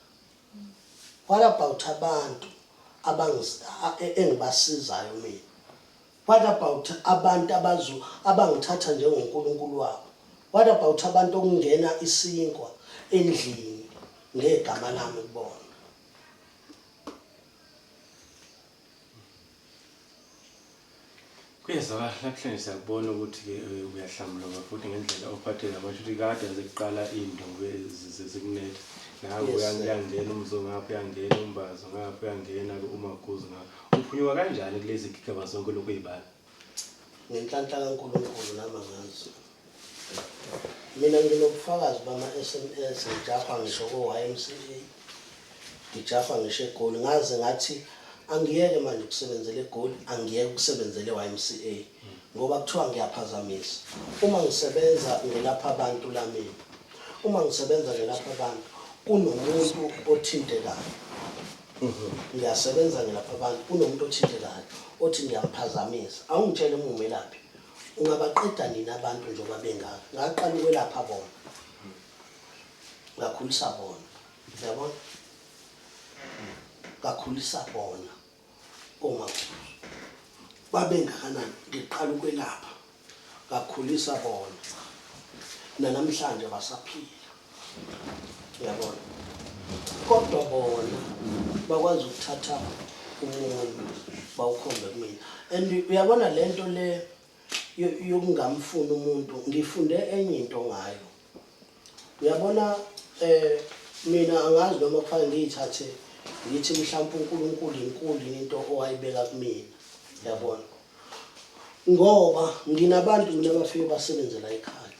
Speaker 2: What about abantu engibasizayo mina? What about abantu abazu abangithatha njengoNkulunkulu wabo? What about abantu okungena isinkwa endlini ngegama lami kubona?
Speaker 1: Kuyezwakala namhlanje siyakubona ukuthi-ke eh, uyahlambuluka futhi ngendlela ophathe ngayo kusho ukuthi kade yaze kuqala into zikunetha nawe Yes, uya- sir. uyangena umzo ngapha uyangena umbazo ngapha uyangena-ke umaguzu ngapha uphunyuka kanjani kulezi gigaba zonke lokhu ey'bala Ngenhlanhla
Speaker 2: kaNkulunkulu nami angazi. Mina nginobufakazi bama-SMS ngijahwa ngisho ko-YMCA, ngijahwa ngisho eGoli. Ngaze ngathi angiyeke manje ukusebenzela eGoli, angiyeke ukusebenzela e-YMCA ngoba kuthiwa ngiyaphazamisa. Uma ngisebenza ngelapha abantu la mina, uma ngisebenza ngelapha abantu kunomuntu othintekayo. Mhm. Ngiyasebenza ngilapha abantu kunomuntu othintekayo othi ngiyamphazamisa. Awungitshele uma umelaphi. Ungabaqeda nini abantu njengoba bengaka? Ngaqala ukwelapha bona. Ngakhulisa bona. Uyabona? Ngakhulisa bona. Uma babengakanani ngiqala ukwelapha. ngakhulisa bona nanamhlanje basaphila uyabona kodwa bona bakwazi ukuthatha umuntu bawukhombe kumina and uyabona le nto le yokungamfuni umuntu ngifunde enye into ngayo uyabona eh mina angazi noma kufanele ngiyithathe ngithi mhlawumbe uNkulunkulu inkulu into owayibeka kumina yabona ngoba nginabantu mina abafike basebenze la ekhaya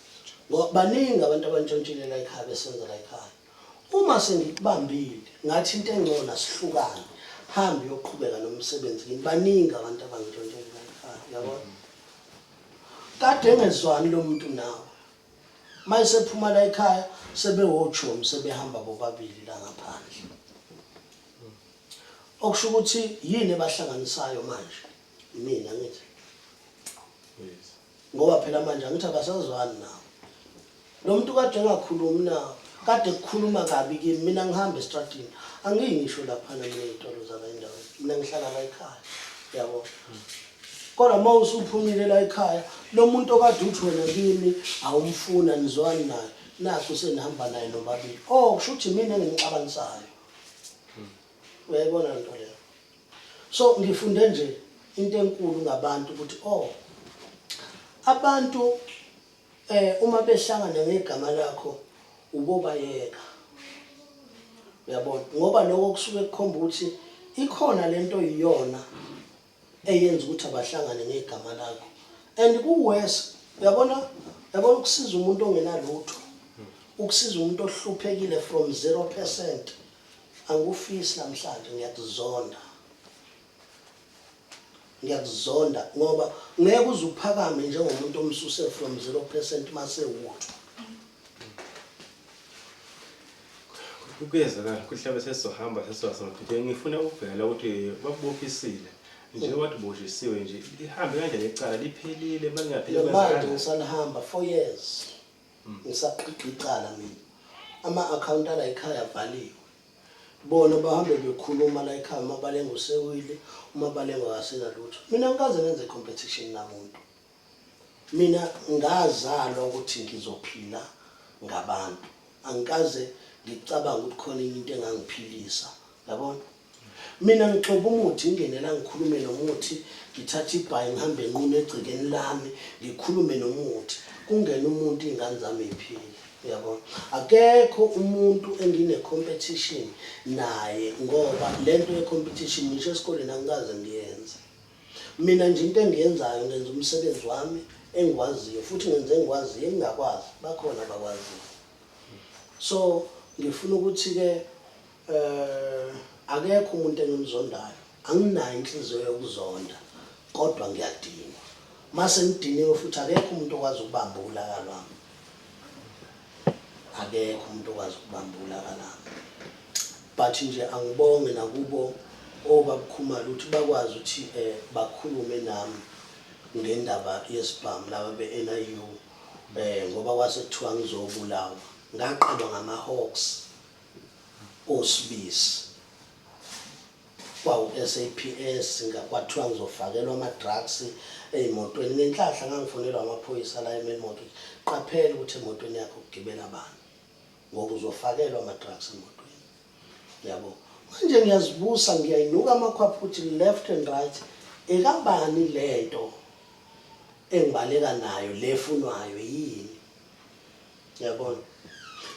Speaker 2: ngoba baningi abantu abantshontshile la ekhaya besebenza la ekhaya uma sengikubambile ngathi into engcono sihlukane hambe uyoqhubeka nomsebenzi ngini baningi abantu abangitshontshile la ekhaya yabona kade engezwani lo muntu nawe mayisephuma la ekhaya sebewojomi sebehamba bobabili la ngaphandle Okusho ukuthi yini ebahlanganisayo manje? Mina ngithi. Ngoba phela manje angithi abasazwani nawo. Lo muntu kade engakhulumi nawo, kade kukhuluma kabi kimi, mina ngihamba estradini. Angiyi ngisho laphana mina ey'tolo zala endaweni, mina ngihlala la ekhaya, yabo. Kodwa uma usuphumile la ekhaya, lo muntu okade uthi wena kimi awumfuni anizwani naye, nakhu senihamba naye nobabili. Oh, kusho ukuthi yimina engimxabanisayo. uyayibona lento leyo so ngifunde nje into enkulu ngabantu ukuthi oh abantu eh uma behlangana ngegama lakho ubobayeka uyabona ngoba lokho kusuke kukhomba ukuthi ikhona lento iyona eyenza ukuthi abahlangane ngegama lakho and kuwes uyabona yabona ukusiza umuntu ongenalutho ukusiza umuntu ohluphekile from 0% angikufisi namhlanje ngiyakuzonda ngiyakuzonda ngoba ngeke uze uphakame njengomuntu omsuse from 0% mase utho
Speaker 1: Kuyezwakala kuhlabe sesizohamba sesizoba semaphetheni. Ngifuna ukubhekela ukuthi bakubophisile njengoba wathi ubojisiwe nje lihambe kanjani icala liphelile malingapheli Manje kwenzekani? ngisanihamba
Speaker 2: four years. Hmm. Ngisaqhiqa icala mina. Ama-akhawunti ala ekhaya avaliwe. Bona bahambe bekhuluma la ekhaya uma balenga usewile, uma balenga akasenalutho. Mina angikaze ngenze competition namuntu. Mina ngazalwa ukuthi ngizophila ngabantu. Angikaze ngicabanga ukuthi khona enye into engangiphilisa. Yabona? Mina ngixoba umuthi ngingene la ngikhulume nomuthi, ngithathe ibhayi ngihambe nqunu egcekeni lami, ngikhulume nomuthi. Kungena umuntu izingane zami ziphile. Uyabona? Akekho umuntu engine competition naye ngoba lento ye competition ngisho esikoleni angikaze ngiyenze. Mina nje into engiyenzayo ngenza umsebenzi wami engiwaziyo futhi ngenza engikwaziyo engingakwazi bakhona abakwaziyo so ngifuna ukuthi-ke um akekho umuntu engimzondayo anginayo inhliziyo yokuzonda kodwa ngiyadinwa uma sengidiniwe futhi akekho umuntu okwazi ukubamba ulaka lwami akekho umuntu okwazi ukubambula kalami but nje angibonge nakubo obabukhumala ukuthi bakwazi ukuthi eh, bakhulume nami ngendaba yesibhamu laba be-NIU um eh, ngoba kwase kuthiwa ngizobulawa ngaqalwa ngama-hawks osibisi kwawu-SAPS kwathiwa ngizofakelwa ama-drugs ey'motweni. Ngenhlahla ngangifonelwa amaphoyisa la eMain Mortgage, qaphela ukuthi emotweni yakho kugibela bani ngoba uzofakelwa ama-drugs emotweni. Yabo. Manje ngiyazibusa ngiyayinuka amakhwapha ukuthi left and right ekabani le nto engibaleka nayo le efunwayo yini? Yabona.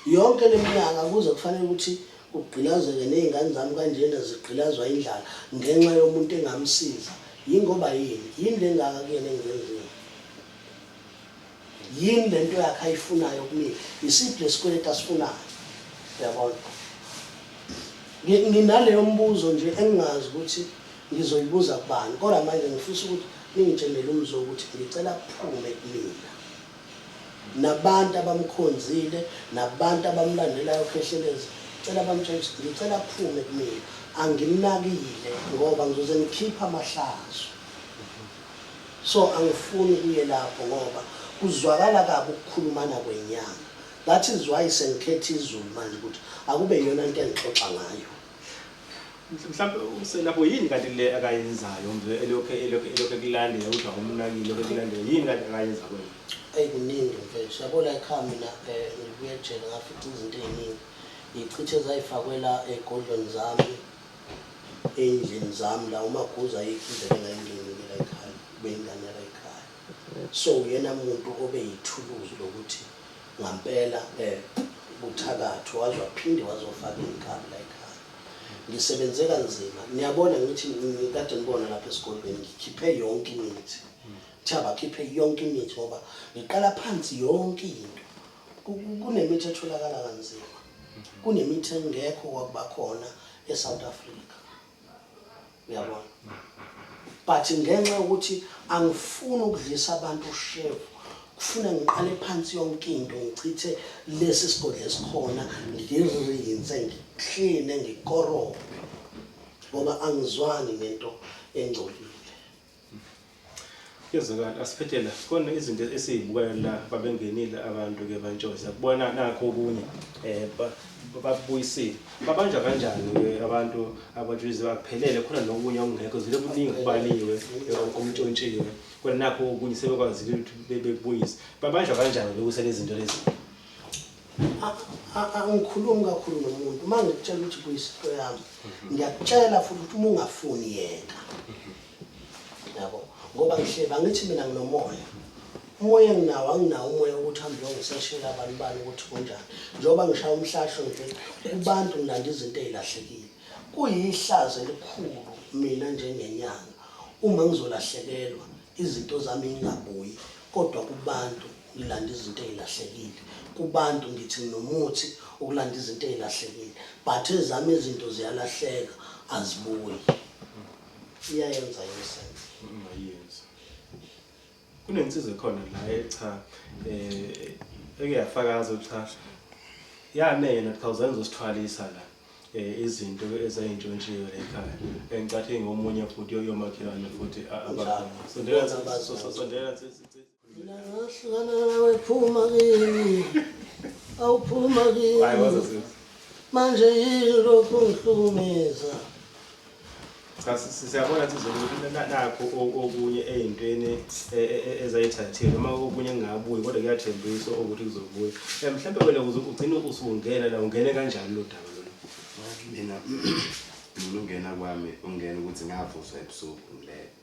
Speaker 2: Yonke leminyaka kuze kufanele ukuthi kugqilazeke nezingane zami kanjena zigqilazwa indlala ngenxa yomuntu engamsiza. Yingoba yini? Yini lengaka kuyena engizenzile? Yini lento yakhe ayifunayo kumina? Isiphi lesikweleti asifunayo? Yabona. Nginaleyo mbuzo nje engingazi ukuthi ngizoyibuza kubani. Kodwa manje ngifisa ukuthi ningitshenele umzo ukuthi ngicela kuphume kumina. nabantu abamkhonzile nabantu abamlandelayo Khehlelezi cela bamtshela ukuthi ngicela aphume kumina anginakile ngoba ngizoze ngikhipha amahlazo so angifuni kuye lapho ngoba kuzwakala kabi ukukhulumana kwenyanga that is why sengikhetha izulu manje ukuthi akube yiyona nto engixoxa ngayo
Speaker 1: mhlawumbe uselapho yini kanti le akayenzayo mve elokhu elokhu elokhu ekulandela ukuthi awumnakile lokhu ekulandela yini kanti akayenza kwena eyi kuningi
Speaker 2: mfethu yabona ekhaya mina um eh, ngibuye ejele ngafica izinto ey'ningi ngiyicithe zayifakwela ey'godlweni zami ey'ndlini zami la umaguza ayikho indlela engayingenile la ekhaya kube yingane yala ekhaya So uyena muntu obe yithuluzi lokuthi ngampela kuthakathwe waze waphinde wazofaka inkabi la ekhaya. Ngisebenze kanzima. Niyabona ngithi ngikade nibona lapha esigodlweni ngikhiphe yonke imithi. Kuthiwa bakhiphe yonke imithi ngoba ngiqala phansi yonke into. Kunemithi etholakala kanzima. Kunemithi engekho kwakuba khona eSouth Africa. uyabona but ngenxa yokuthi angifuni ukudlisa abantu ushevu kufuna ngiqale phansi yonke into ngichithe lesi sigodlo esikhona ngirinse ngikline ngikorobhe ngoba angizwani nento engcolile
Speaker 1: Kuyezwakala asiphethe la khona izinto esizibukayo la babengenile abantu ke bantshoza kubona nakho okunye eh babuyisile babanjwa kanjani ke abantu abatshizi baphelele khona nokunye okungekho zile kuningi kubaliwe okumtshontshiwe kodwa nakho okunye sebekwazile ukuthi bebuyise babanjwa kanjani lokusele izinto lezi
Speaker 2: angikhulumi kakhulu nomuntu uma ngikutshela ukuthi kuyisinto yami mhm. ngiyakutshela futhi ukuthi uma ungafuni yeka mhm. yabo ngoba ngihleba ngithi mina nginomoya umoya enginawo anginawo umoya ukuthi hambe uyongiseshela abantu bani ukuthi kunjani njengoba ngishaya umhlahlo nje kubantu ngilanda izinto ezilahlekile kuyihlazo elikhulu mina njengenyanga uma ngizolahlekelwa izinto zami ingabuyi kodwa kubantu ngilanda izinto ezilahlekile kubantu ngithi nginomuthi ukulanda izinto ezilahlekile but ezami izinto ziyalahleka azibuyi iyayenza yesana ungayenza
Speaker 1: kunensiza khona la echa eh ekuyafakaza cha yane yena thousand usithwalisa la eh, izinto ezayintshontshiwe la ekhaya engicathi ngomunye futhi yoyomakhelwane futhi abakhona sondela sondela Mina
Speaker 2: ngahlukana nawe phuma kimi. Awuphuma kimi. Hayi wazazini. Manje yini lokhu ngihlukumeza?
Speaker 1: Cha siyabona ukuthi nakho okunye ey'ntweni e, e, e, ezayithathile noma okunye kungabuyi kodwa kuyathembisa ukuthi kuzobuya. Um mhlawumbe wena kuze ugcine usungena la ungene kanjani lo daba lona? Mina
Speaker 3: mina ungena kwami ungena ukuthi ngavuswa ebusuku ngilele.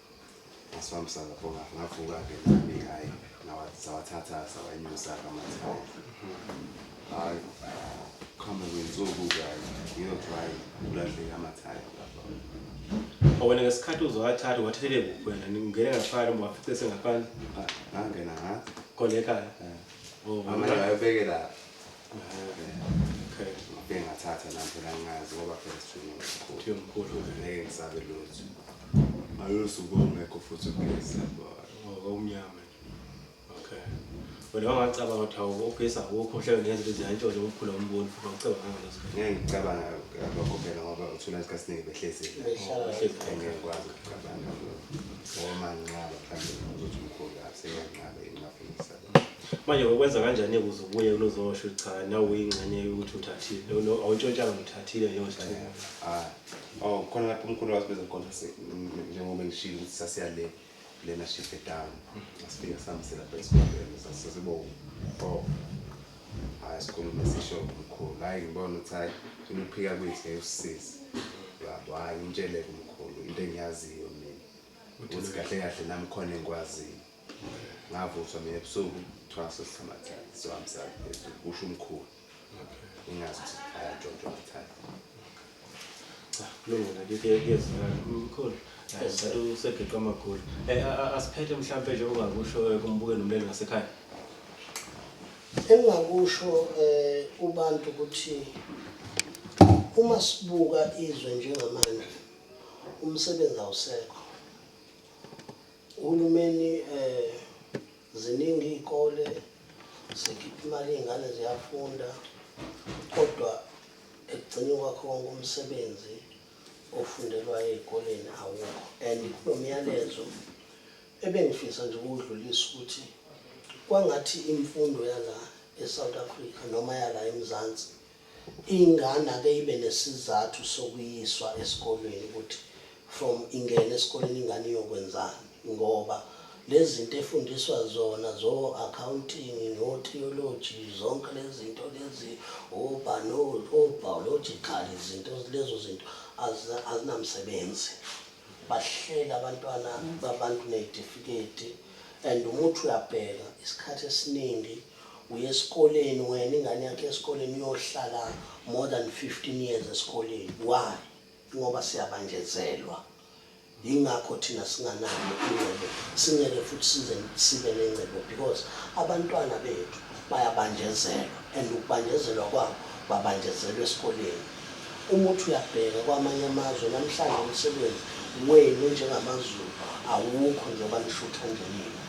Speaker 3: ngasibambisana pho ngavuka-ke nami hhayi sawathatha sawanyusa-ke amathayi hhayi kuhambe kwensuku-ke hhayi ngiyothi hhayi kulahleke amathayi lapha
Speaker 1: wena ngesikhathi uzowathatha wathathele kuphi wena ngingene ngaphakathi noma wafice sengaphandle ngangena
Speaker 3: ngathi khona ekhaya
Speaker 1: amanye
Speaker 3: wayebeke lapha
Speaker 1: bengathatha lapho
Speaker 3: langazi ngoba phela sithunga mkhulu
Speaker 1: ngeke ngisabe
Speaker 3: lutho ayosuku ongekho futhi ugesi lapho ngokomnyama
Speaker 1: okay wena wangacabanga ukuthi hawu ugesi awukho mhlawumbe ngenza ukuthi ziyantshontsha umkhulu ombono futhi awucabanga ngaleso sikhathi ngeke ngicabanga
Speaker 3: lokho phela ngoba uthula isikhathi siningi behlezile ngeke ngikwazi ukucabanga ngoba manginqaba mhlawumbe ukuthi umkhulu aseyanqabe ingafisa manje
Speaker 1: ukwenza kanjani ukuze ubuye ulozosho cha nawe uyingxenye yokuthi uthathile lo awuntshontshanga ngithathile leyo sithuko ah oh
Speaker 3: khona lapho umkhulu wathi bezokhona njengoba ngishilo ukuthi sasiya le lena shift down asifika sihambisela lapha esikoleni sasibo oh hayi sikhulume sisho umkhulu hayi ngibona ukuthi hayi funa ukuphika kwethu ngeke usisize yabo hayi ngitshele kumkhulu into engiyaziyo mina ukuthi kahle kahle nami khona engikwaziyo ngavuswa mina ebusuku kuthiwa sesisamathani siwamsana phezulu kusho umkhulu ingazi ukuthi ayatshontshwa amathani cha kulungile
Speaker 1: ngike kuyezwakala mkhulu sathi usegeqa amagula um asiphethe mhlawumpe nje ungakusho eh, kumbuke nomleli ngasekhaya
Speaker 2: engingakusho um kubantu ukuthi uma sibuka izwe njengamanje umsebenzi awusekho Uhulumeni um ziningi iy'kole zikhipha imali iy'ngane ziyafunda kodwa ekugcini kwakho konke umsebenzi ofundelwayo ey'koleni awukho and kulo myalezo ebengifisa nje ukuwudlulisa ukuthi kwangathi imfundo yala e-south africa noma yala emzansi Ingane ake ibe nesizathu sokuyiswa esikolweni ukuthi from ingene esikoleni ingane iyokwenzani ngoba lezinto efundiswa zona zo accounting no theology zonke lezinto lezi oba no biological izinto lezo zinto azinamsebenzi bahlela abantwana babantu nezitifiketi and umuthi uyabheka isikhathi esiningi Uye eskoleni wena ingane yakho eskoleni uyohlala more than 15 years eskoleni why? Ingoba siyabanjezelwa yingakho thina singanayo ingcebo singeke futhi size sibe nengcebo because abantwana bethu bayabanjezelwa and ukubanjezelwa kwabo babanjezelwa esikoleni Uma uthi uyabheka kwamanye amazwe namhlanje umsebenzi wenu njengamaZulu awukho njengoba nishutha nje nina.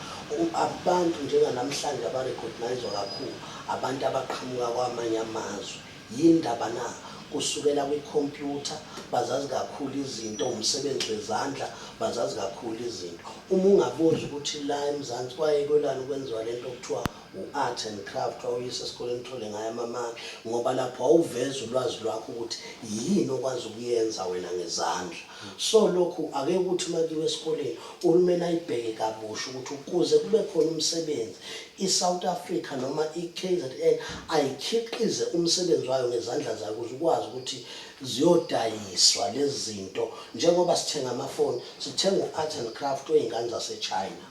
Speaker 2: Abantu njenganamhlanje abarecogniswa kakhulu abantu abaqhamuka kwamanye amazwe. Yini ndaba na? Kusukela kwikhompyutha, bazazi kakhulu izinto, umsebenzi wezandla, bazazi kakhulu izinto. Uma ungabuza ukuthi la eMzansi kwaye kwelani kwenziwa lento okuthiwa u-Art and Craft wawuyisa esikoleni uthole ngayo amamaki ngoba lapho wawuveza ulwazi lwakho ukuthi yini okwazi ukuyenza wena ngezandla. So lokhu ake ukuthi uma kuyiwa esikoleni uhulumeni ayibheke kabusha ukuthi ukuze kube khona umsebenzi i-South Africa noma i-KZN ayikhiqize umsebenzi wayo ngezandla zayo ukuze ukwazi ukuthi ziyodayiswa lezi zinto njengoba sithenga amafoni sithenga u-Art and Craft oyingane zaseChina.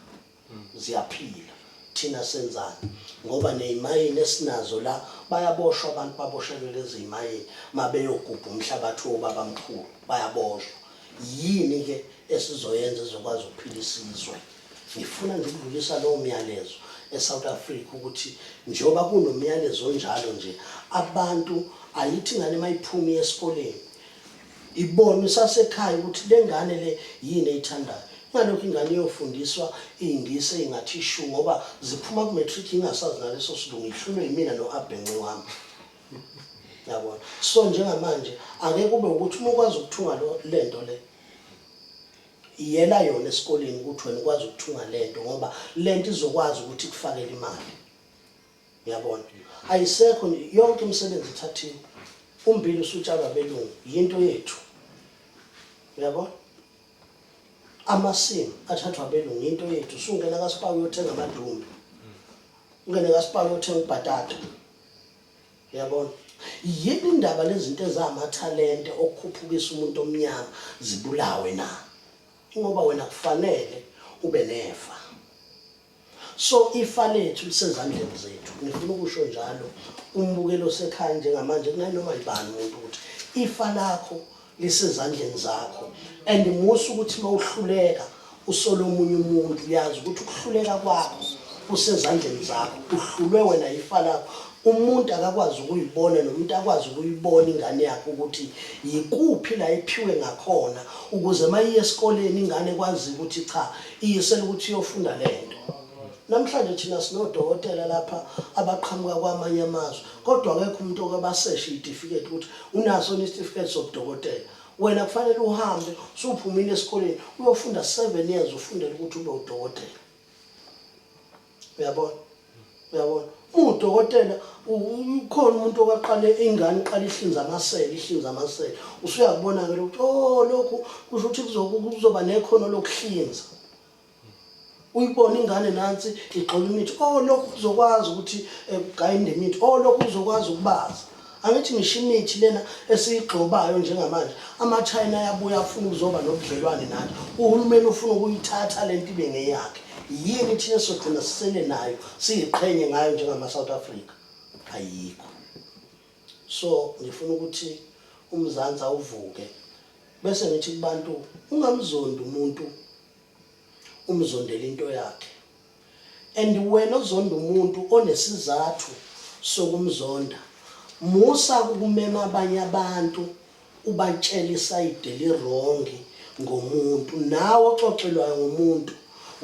Speaker 2: ziyaphila thina senzani ngoba nezimayini esinazo la bayaboshwa abantu baboshelwe lezi zimayini mabeyogubha umhlabathi wobaba mkhulu bayaboshwa yini ke esizoyenza ezokwazi ukuphila isizwe ngifuna nje ukudlulisa lowo myalezo eSouth Africa ukuthi njengoba kunomyalezo onjalo nje abantu ayithi ngane mayiphumi esikoleni Ibone usasekhaya ukuthi le ngane le yini eyithandayo. Kungalokho ingane iyofundiswa iy'ngisi ey'ngathi shu ngoba ziphuma ku-matric ingasazi naleso silungu ihlulwe yimina no-abhenci wami. Yabona? So njengamanje ake kube ukuthi uma ukwazi ukuthunga le nto le yela yona esikoleni ukuthi wena ukwazi ukuthunga le nto ngoba le nto izokwazi ukuthi ikufakele imali. Uyabona? Ayisekho nje yonke imisebenzi ithathiwe. Umbili usutshalwa belungu, yinto yethu. Uyabona? Amasimu athathwa abelungu, yinto yethu. Usungena kaSpar uyothenga amadumbe. Ungene kaSpar uyothenga ubhatata. Uyabona? Yini indaba lezinto ezamathalente okukhuphukisa umuntu omnyama zibulawe na? Ingoba wena kufanele ube nefa. So ifa lethu lisezandleni zethu. Ngifuna ukusho njalo umbukeli osekhaya njengamanje kunanoma yibani umuntu ukuthi ifa lakho lisezandleni zakho and musa ukuthi mawuhluleka usole omunye umuntu uyazi ukuthi ukuhluleka kwakho kusezandleni zakho uhlulwe wena ifa lakho umuntu akakwazi ukuyibona nomuntu akwazi ukuyibona ingane yakhe ukuthi yikuphi la iphiwe ngakhona ukuze mayiye esikoleni ingane kwazi ukuthi cha Iyisela ukuthi uyofunda le nto. Namhlanje thina sinodokotela lapha abaqhamuka kwamanye amazwe kodwa akekho umuntu oke baseshe iy'tifiketi ukuthi unaso yini isitifiketi sobudokotela. Wena kufanele uhambe usuphumile esikoleni uyofunda seven years ufundele ukuthi ube udokotela. uyabona uyabona udokotela ukhona umuntu okaqale ingane iqala ihlinza amasele ihlinza amasele usuyakubona ke ukuthi oh lokhu kusho ukuthi kuzoba nekhono lokuhlinza uyibona ingane nansi igxola imithi oh lokhu kuzokwazi ukuthi eh, kugayinde imithi oh lokhu kuzokwazi ukubaza Angithi ngisho imithi lena esiyigxobayo njengamanje amaChina ayabuya afuna ukuzoba nobudlelwane nathi. Uhulumeni ufuna ukuyithatha le nto ibe ngeyakhe. Yini thina esizogcina sisele nayo siyiqhenye ngayo njengama-South Africa? Ayikho. So ngifuna ukuthi uMzansi awuvuke bese ngithi kubantu ungamzondi umuntu umzondela into yakhe and wena ozonda umuntu onesizathu sokumzonda musa ukumema abanye abantu ubatshela isayide lirongi ngomuntu nawe oxoxelwayo ngomuntu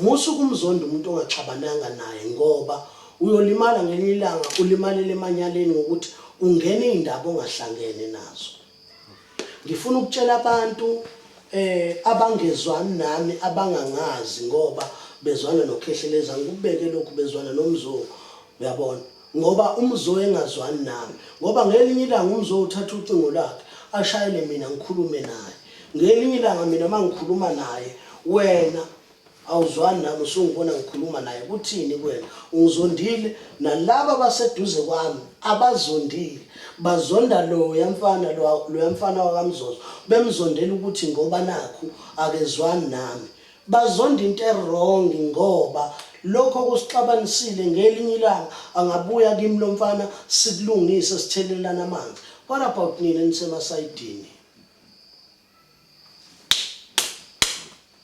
Speaker 2: musa ukumzonda umuntu ongaxabananga naye ngoba uyolimala ngelinye ilanga ulimalele emanyaleni ngokuthi ungena iy'ndaba ongahlangene nazo Ngifuna ukutshela abantu eh abangezwani nami abangangazi ngoba bezwana noKhehleleza ngikubeke lokhu bezwana nomzungu uyabona ngoba umzungu engazwani nami ngoba ngelinye ilanga umzungu uthatha ucingo lakhe ashayele mina ngikhulume naye ngelinye ilanga mina mangikhuluma naye wena Awuzwani nami usungibona ngikhuluma naye kuthini kwena ungizondile nalaba baseduze kwami abazondile bazonda loya mfana loya mfana wakamzozo bemzondela ukuthi ngoba nakhu akezwani nami bazonda into erong ngoba lokho kusixabanisile ngelinye ilanga angabuya kimi lo mfana sikulungise sithelelana amanzi what about nina nisemasayidini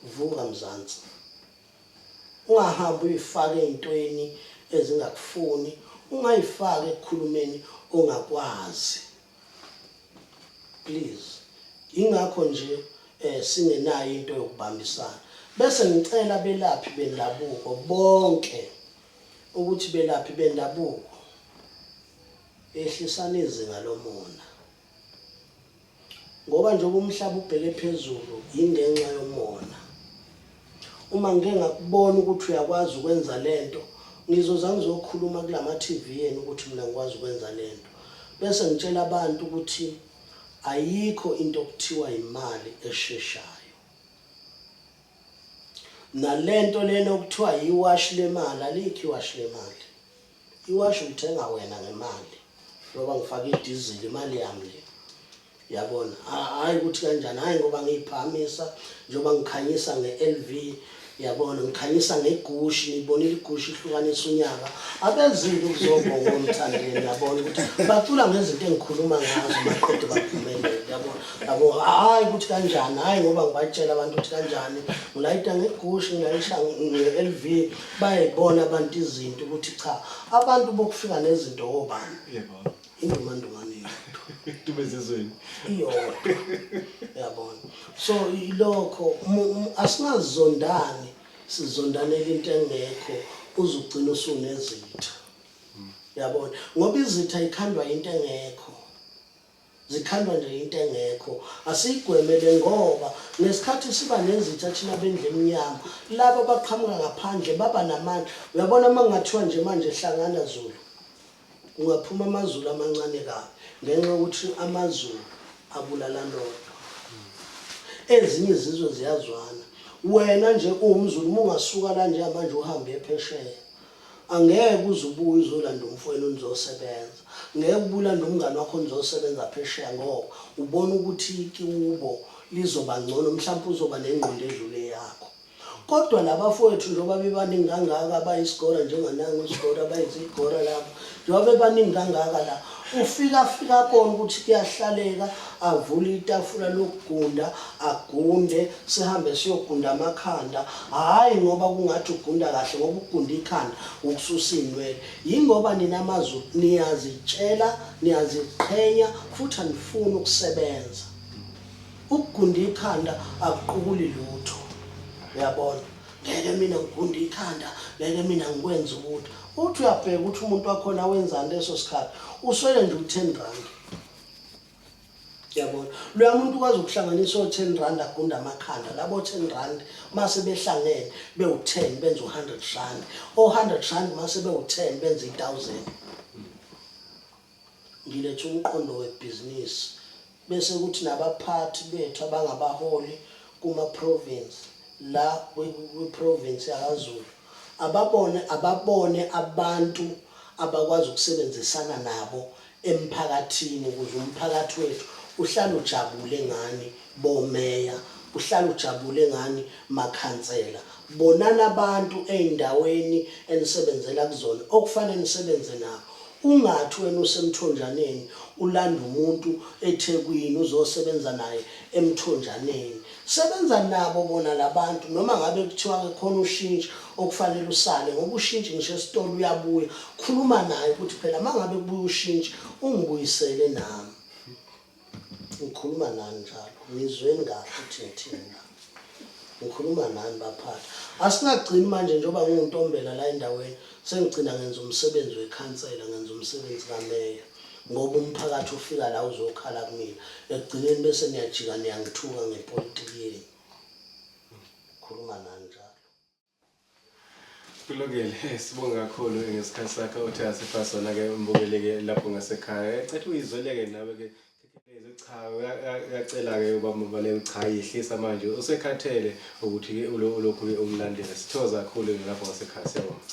Speaker 2: Vuka Mzansi. Ungahambi uyifake ezintweni ezingakufuni, ungayifaki ekukhulumeni ongakwazi. Please. Ingakho nje eh singenayo into yokubambisana. Bese ngicela belaphi bendabuko bonke ukuthi belaphi bendabuko ehlisana izinga lomona. Ngoba njengoba umhlaba ubheke phezulu yingenxa yomona. Uma ngike ngakubona ukuthi uyakwazi ukwenza le nto, ngizoza ngizokhuluma kulama TV enu ukuthi mina ngikwazi ukwenza le nto. Bese ngitshela abantu ukuthi ayikho into okuthiwa imali esheshayo. Nale nto lena okuthiwa yiwashi lemali, alikho iwashi lemali. Iwashi ulithenga wena ngemali ngoba ngifake idizili imali yami le. Yabona? Hayi ukuthi kanjani, hayi ngoba ngiyiphakamisa njengoba ngikhanyisa nge-LV yabona ngikhanyisa ngegushi ngibonile igushi ihlukanisa unyaka abezile ukuzobonga omthandeni yabona ukuthi bacula ngezinto engikhuluma ngazo baqede baphumelele yabona yabo hhayi ukuthi kanjani hhayi ngoba ngibatshela abantu ukuthi kanjani ngilayita ngegushi ngilayisha nge-l v bayayibona abantu izinto ukuthi cha abantu bokufika nezinto obani yebo
Speaker 1: indumandumane
Speaker 2: yodwa dume
Speaker 1: zizweni iyodwa
Speaker 2: yabona so ilokho asingazondani sizondanela into engekho uzugcina usunezitha yabona ngoba izitha ikhandwa into engekho Zikhandwa nje into engekho. Asiyigwemele ngoba ngesikhathi siba nezitha thina bendlu emnyama, laba abaqhamuka ngaphandle baba namandla. Uyabona uma kungathiwa nje manje hlangana Zulu, kungaphuma amaZulu amancane kabi ngenxa yokuthi amaZulu abulalana odwa. Ezinye izizwe ziyazwana. Wena nje uwumZulu uma ungasuka la njengamanje uhambe uye phesheya, Angeke uze ubuye uzolanda umfwenu nizosebenza. Ngeke ubuye ulande umngani wakho nizosebenza phesheya ngoba ubona ukuthi kiubo lizoba ngcono mhlampe uzoba nengqondo edlule eyakho. Kodwa labafowethu njoba bebaningi kangaka abayisgora njenganangu isgora abayizigora laba. Njengoba bebaningi kangaka la, ufika afika abone ukuthi kuyahlaleka, avule itafula lokugunda, agunde, sihambe siyogunda amakhanda. Hhayi ngoba kungathi ugunda kahle ngoba ukugunda ikhanda ukususa iy'nwele. Yingoba nina maZulu niyazitshela, niyaziqhenya futhi anifuni ukusebenza. Ukugunda ikhanda akuqukuli lutho. Uyabona? ngeke mina ngigunde ikhanda ngeke mina ngikwenze ukuthi uthi uyabheka ukuthi umuntu wakhona wenzani leso sikhathi uswele nje u-ten rand yabona loya muntu ukwazi ukuhlanganisa o-ten rand agunda amakhanda labo ten rand mase behlangene bewu-ten benze u-hundred rand o-hundred rand mase bewu-ten benze i-thousand Ngiletha umqondo webhizinisi bese kuthi nabaphathi bethu abangabaholi kuma province la kwi province yakwaZulu ababone ababone abantu abakwazi ukusebenzisana nabo emphakathini ukuze umphakathi wethu uhlale ujabule ngani bo meya uhlale ujabule ngani makhansela bonani abantu ezindaweni enisebenzela kuzona okufane nisebenze nabo Ungathi wena usemthonjaneni ulanda umuntu ethekwini uzosebenza naye emthonjaneni. Sebenza nabo bona labantu noma ngabe kuthiwa ke khona ushintshi okufanele usale ngoba ushintshi ngisho esitolo uyabuya. Khuluma naye ukuthi phela mangabe kubuya ushintshi ungibuyisele nami. Ngikhuluma nani njalo? Ngizweni kahle ukuthi ngithini na? Ngikhuluma nani baphathi? Asingagcini manje njengoba ngiwuntombela la endaweni sengigcina ngenza umsebenzi wekhansela, ngenza umsebenzi kameya ngoba umphakathi ufika la uzokhala kumina. Ekugcineni bese niyajika niyangithuka ngepolitiki yenu. Ngikhuluma nani njalo?
Speaker 1: Kulungile, eh, sibonge kakhulu ngesikhathi sakho uthe asipha sona ke umbukeleke lapho ngasekhaya. Ecathi uyizweleke nawe ke Khekelezi cha uya- uya- uyacela ke ubaba Mbaleko cha yehlisa manje usekhathele ukuthi ke ulo- ulokhu ke umlandela. Sithokoza kakhulu ke lapho ngasekhaya siyabonga.